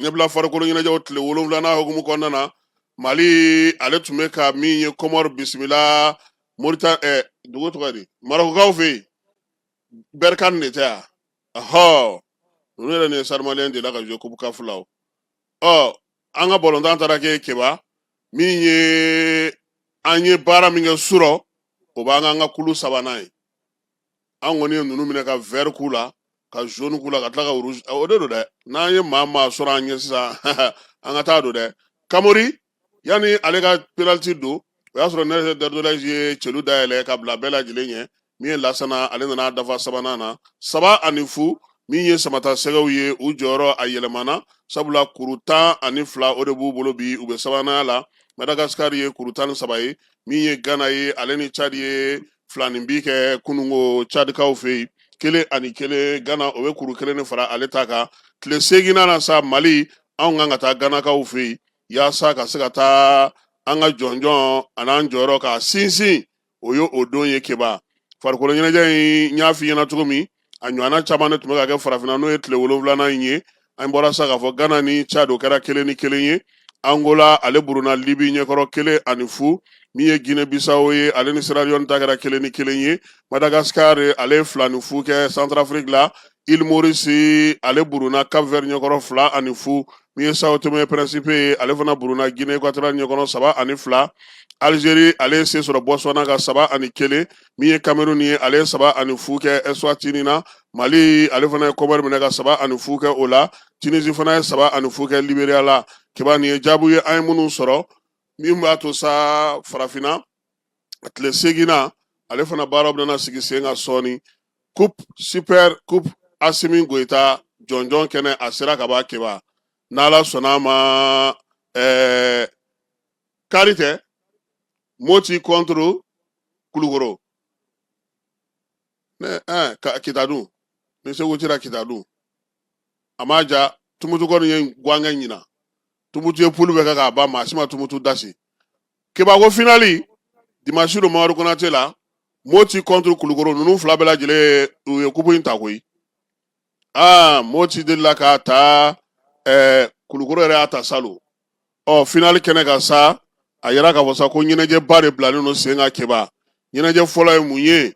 ɲɛbila farikolo ɲɛnajɛw tile wolonwulanan hukumu kɔnɔna na mali ale tun bɛ ka min ye kɔmɔri bisimila morita ɛ eh, dugu tɔgɔ di marɔkukaw fɛ yen bɛrikan de tɛ yan ɔhɔ ninnu yɛrɛ ni stade malien delila ka jouer coupe caf la o ɔ an ka bɔlɔntan taara kɛ keba min ye an ye baara min kɛ surɔ o b'an k'an ka kulu sabanan ye an kɔni ye ninnu minɛ ka vert k'u la ka jaune k'u la ka tila ka rouge o de don dɛ n'an ye maa maa sɔrɔ an ɲɛ sisan an ka taa don dɛ kamori yanni ale ka penaliti don o y'a sɔrɔ nene dorgeles ye celu dayɛlɛ ka bila bɛɛ lajɛlen ɲɛ min ye lasana ale nan'a dafa sabanan na saba ani fu min ye samata sɛgɛw ye u jɔyɔrɔ a yɛlɛmana sabula kuru tan ani fila o de b'u bolo bi u bɛ sabananya la madagasikari ye kuru tan ni saba ye min ye gana ye ale ni cadi ye filaninbin kɛ kununko cadikaw fɛ yen kelen ani kelen gana o bɛ kuru kelen de fara ale ta kan tile seginnan na sa mali anw kan ka taa ganakaw fɛ yen yaasa ka se ka taa an ka jɔnjɔn an'an jɔyɔrɔ ka sinsin o ye o don ye keba farikolo ɲɛnajɛ in n y'a f'i ɲɛna cogo min a ɲɔgɔnna caman de tun bɛ ka kɛ farafinna n'o ye tile wolonwulanan in ye an bɔra sa k'a fɔ gana ni cadi o kɛra kelen ni kelen ye angola ale buruna libi ɲɛkɔrɔ kelen ani fu min ye guinee bisawo ye ale ni siraliyɔni ta kɛra kelen ni kelen ye madagascar ale ye fila ni fu kɛ centrafrique la il morisi ale buruna cap vert ɲɛkɔrɔ fila ani fu min ye sao tome principe ye ale fana buruna guinee équatoriale ɲɛkɔrɔ saba ani fila algérie ale ye se sɔrɔ botswana kan saba ani kelen min ye kameruni ye ale ye saba ani fu kɛ eswatini na mali ale fana ye kɔmɔri minɛ ka saba ani fu kɛ o la tunisi fana ye saba ani fu kɛ liberiya la keba nin ye jaabu ye an ye minnu sɔrɔ min b'a to sa farafinna a tile seginnan ale fana baara bɛna sigi sen kan sɔɔni coupe super coupe asimi goyita jɔnjɔn kɛnɛ a sera kaban keba n'ala sɔnna a ma ɛɛ kari tɛ moti contre kulukoro ne ɛɛ ka kita dun ni segu cira kita dun a ma ja tumutu kɔni ye gwankɛ ɲina tumutu ye pulu bɛɛ kɛ k'a ban maa si ma tumutu dasi keba ko finali dimasi don mamadu konate la moti contre kulukoro ninnu fila bɛɛ lajɛlen u ye kupu in ta koyi aa moti delila k'a ta ɛɛ kulukoro yɛrɛ y'a ta salon ɔ finali kɛnɛ kan sa a yira k'a fɔ sa ko ɲɛnajɛba de bilalen don sen kan keba ɲɛnajɛ fɔlɔ ye mun ye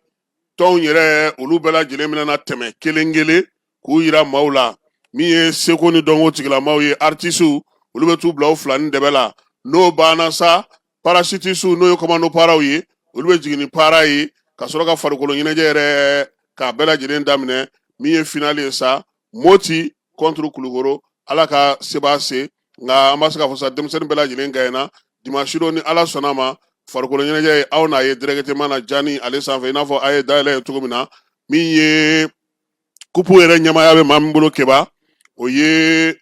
tɔnw yɛrɛ olu bɛɛ lajɛlen bɛna tɛmɛ kelen kelen k'u yira maaw la min ye seko ni dɔnko tigilamaw ye artisiw olu bɛ t'u bila u fila ni dɛbɛ la n'o banna sa parasutisiw n'o ye kɔmando paaraw ye olu bɛ jigin ni paara ye ka sɔrɔ ka farikolo ɲɛnajɛ yɛrɛ k'a bɛɛ lajɛlen daminɛ min ye finali ye sa moti kɔnturu kulukoro ala ka sebaa se nka an b'a se k'a fɔ sa denmisɛnnin bɛɛ lajɛlen gaɲɛna dimansi don ni ala sɔnna ma farikolo ɲɛnajɛ ye aw n'a ye dirɛkiteman na janin ale sanfɛ i n'a fɔ a ye dayɛlɛ ye cogo min na min ye kupu yɛrɛ ɲɛmaaya bɛ maa min bolo keba o ye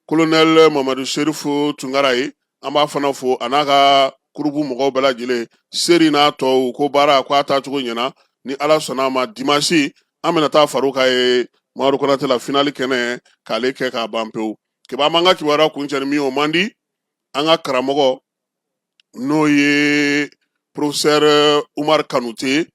kolonɛl mamadu serifu tunkara ye an b'a fana fo a n'a ka kurubu mɔgɔw bɛɛ lajɛlen seri n'a tɔw ko baara ko a taacogo ɲɛna ni ala sɔnna a ma dimasi an bɛna taa far'u kan yen mamadu konate la finali kɛnɛ k'ale kɛ k'a ban pewu keba an b'an ka kibaruya kuncɛ ni min ye o man di an ka karamɔgɔ n'o ye porofesɛri umaru kanute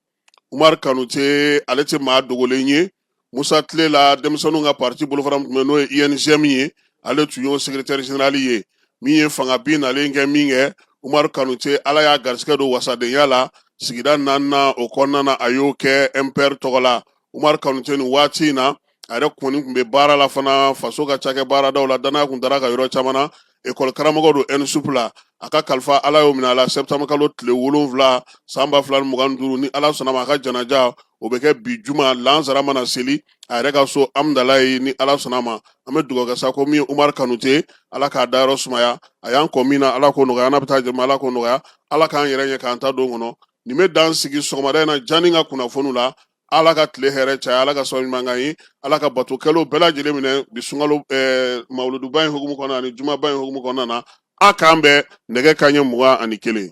umaru kanute ale tɛ maa dogolen ye musa tilela denmisɛnninw ka pati bolofara min tun bɛ n'o ye UNJM ye ale tun y'o sekeretɛri zenerali ye min ye fanga bin nalen kɛ min kɛ umaru kanute ala y'a garisɛgɛ don wasadenya la sigida naaninan o kɔnɔna a y'o kɛ MPR tɔgɔ la Umaru Kanute nin waati in na a yɛrɛ kɔni tun bɛ baara la fana faso ka cakɛ baaradaw la dannaya tun dar'a kan yɔrɔ caman na ekɔli karamɔgɔ don ɛnisupu la a ka kalifa ala y'o minɛ a la sɛtanburukalo tile wolonwula san ba fila ni mugan duuru ni ala sɔnna ma a ka janaja o bɛ kɛ bi juma lansara mana seli a yɛrɛ ka so amudalayi ni ala sɔnna ma an bɛ dugawu kɛ sa ko min umaru kanute ala k'a dayɔrɔ sumaya a y'an kɔn min na ala k'o nɔgɔya n'a bɛ taa jama ala k'o nɔgɔya ala k'an yɛrɛ ɲɛ k'an taa don kɔnɔ nin bɛ dan sigi sɔgɔmada in na janin ka kunnafoniw la ala ka tile hɛrɛ caya ala ka sɔrɔ ɲuman k'an ye ala ka batokɛlaw bɛɛ lajɛlen minɛ bi sunkalo eh, mawuluduba in hukumu kɔnɔna ani jumaba in hukumu kɔnɔna na a k'an bɛn nɛgɛ kanɲɛ mugan ani kelen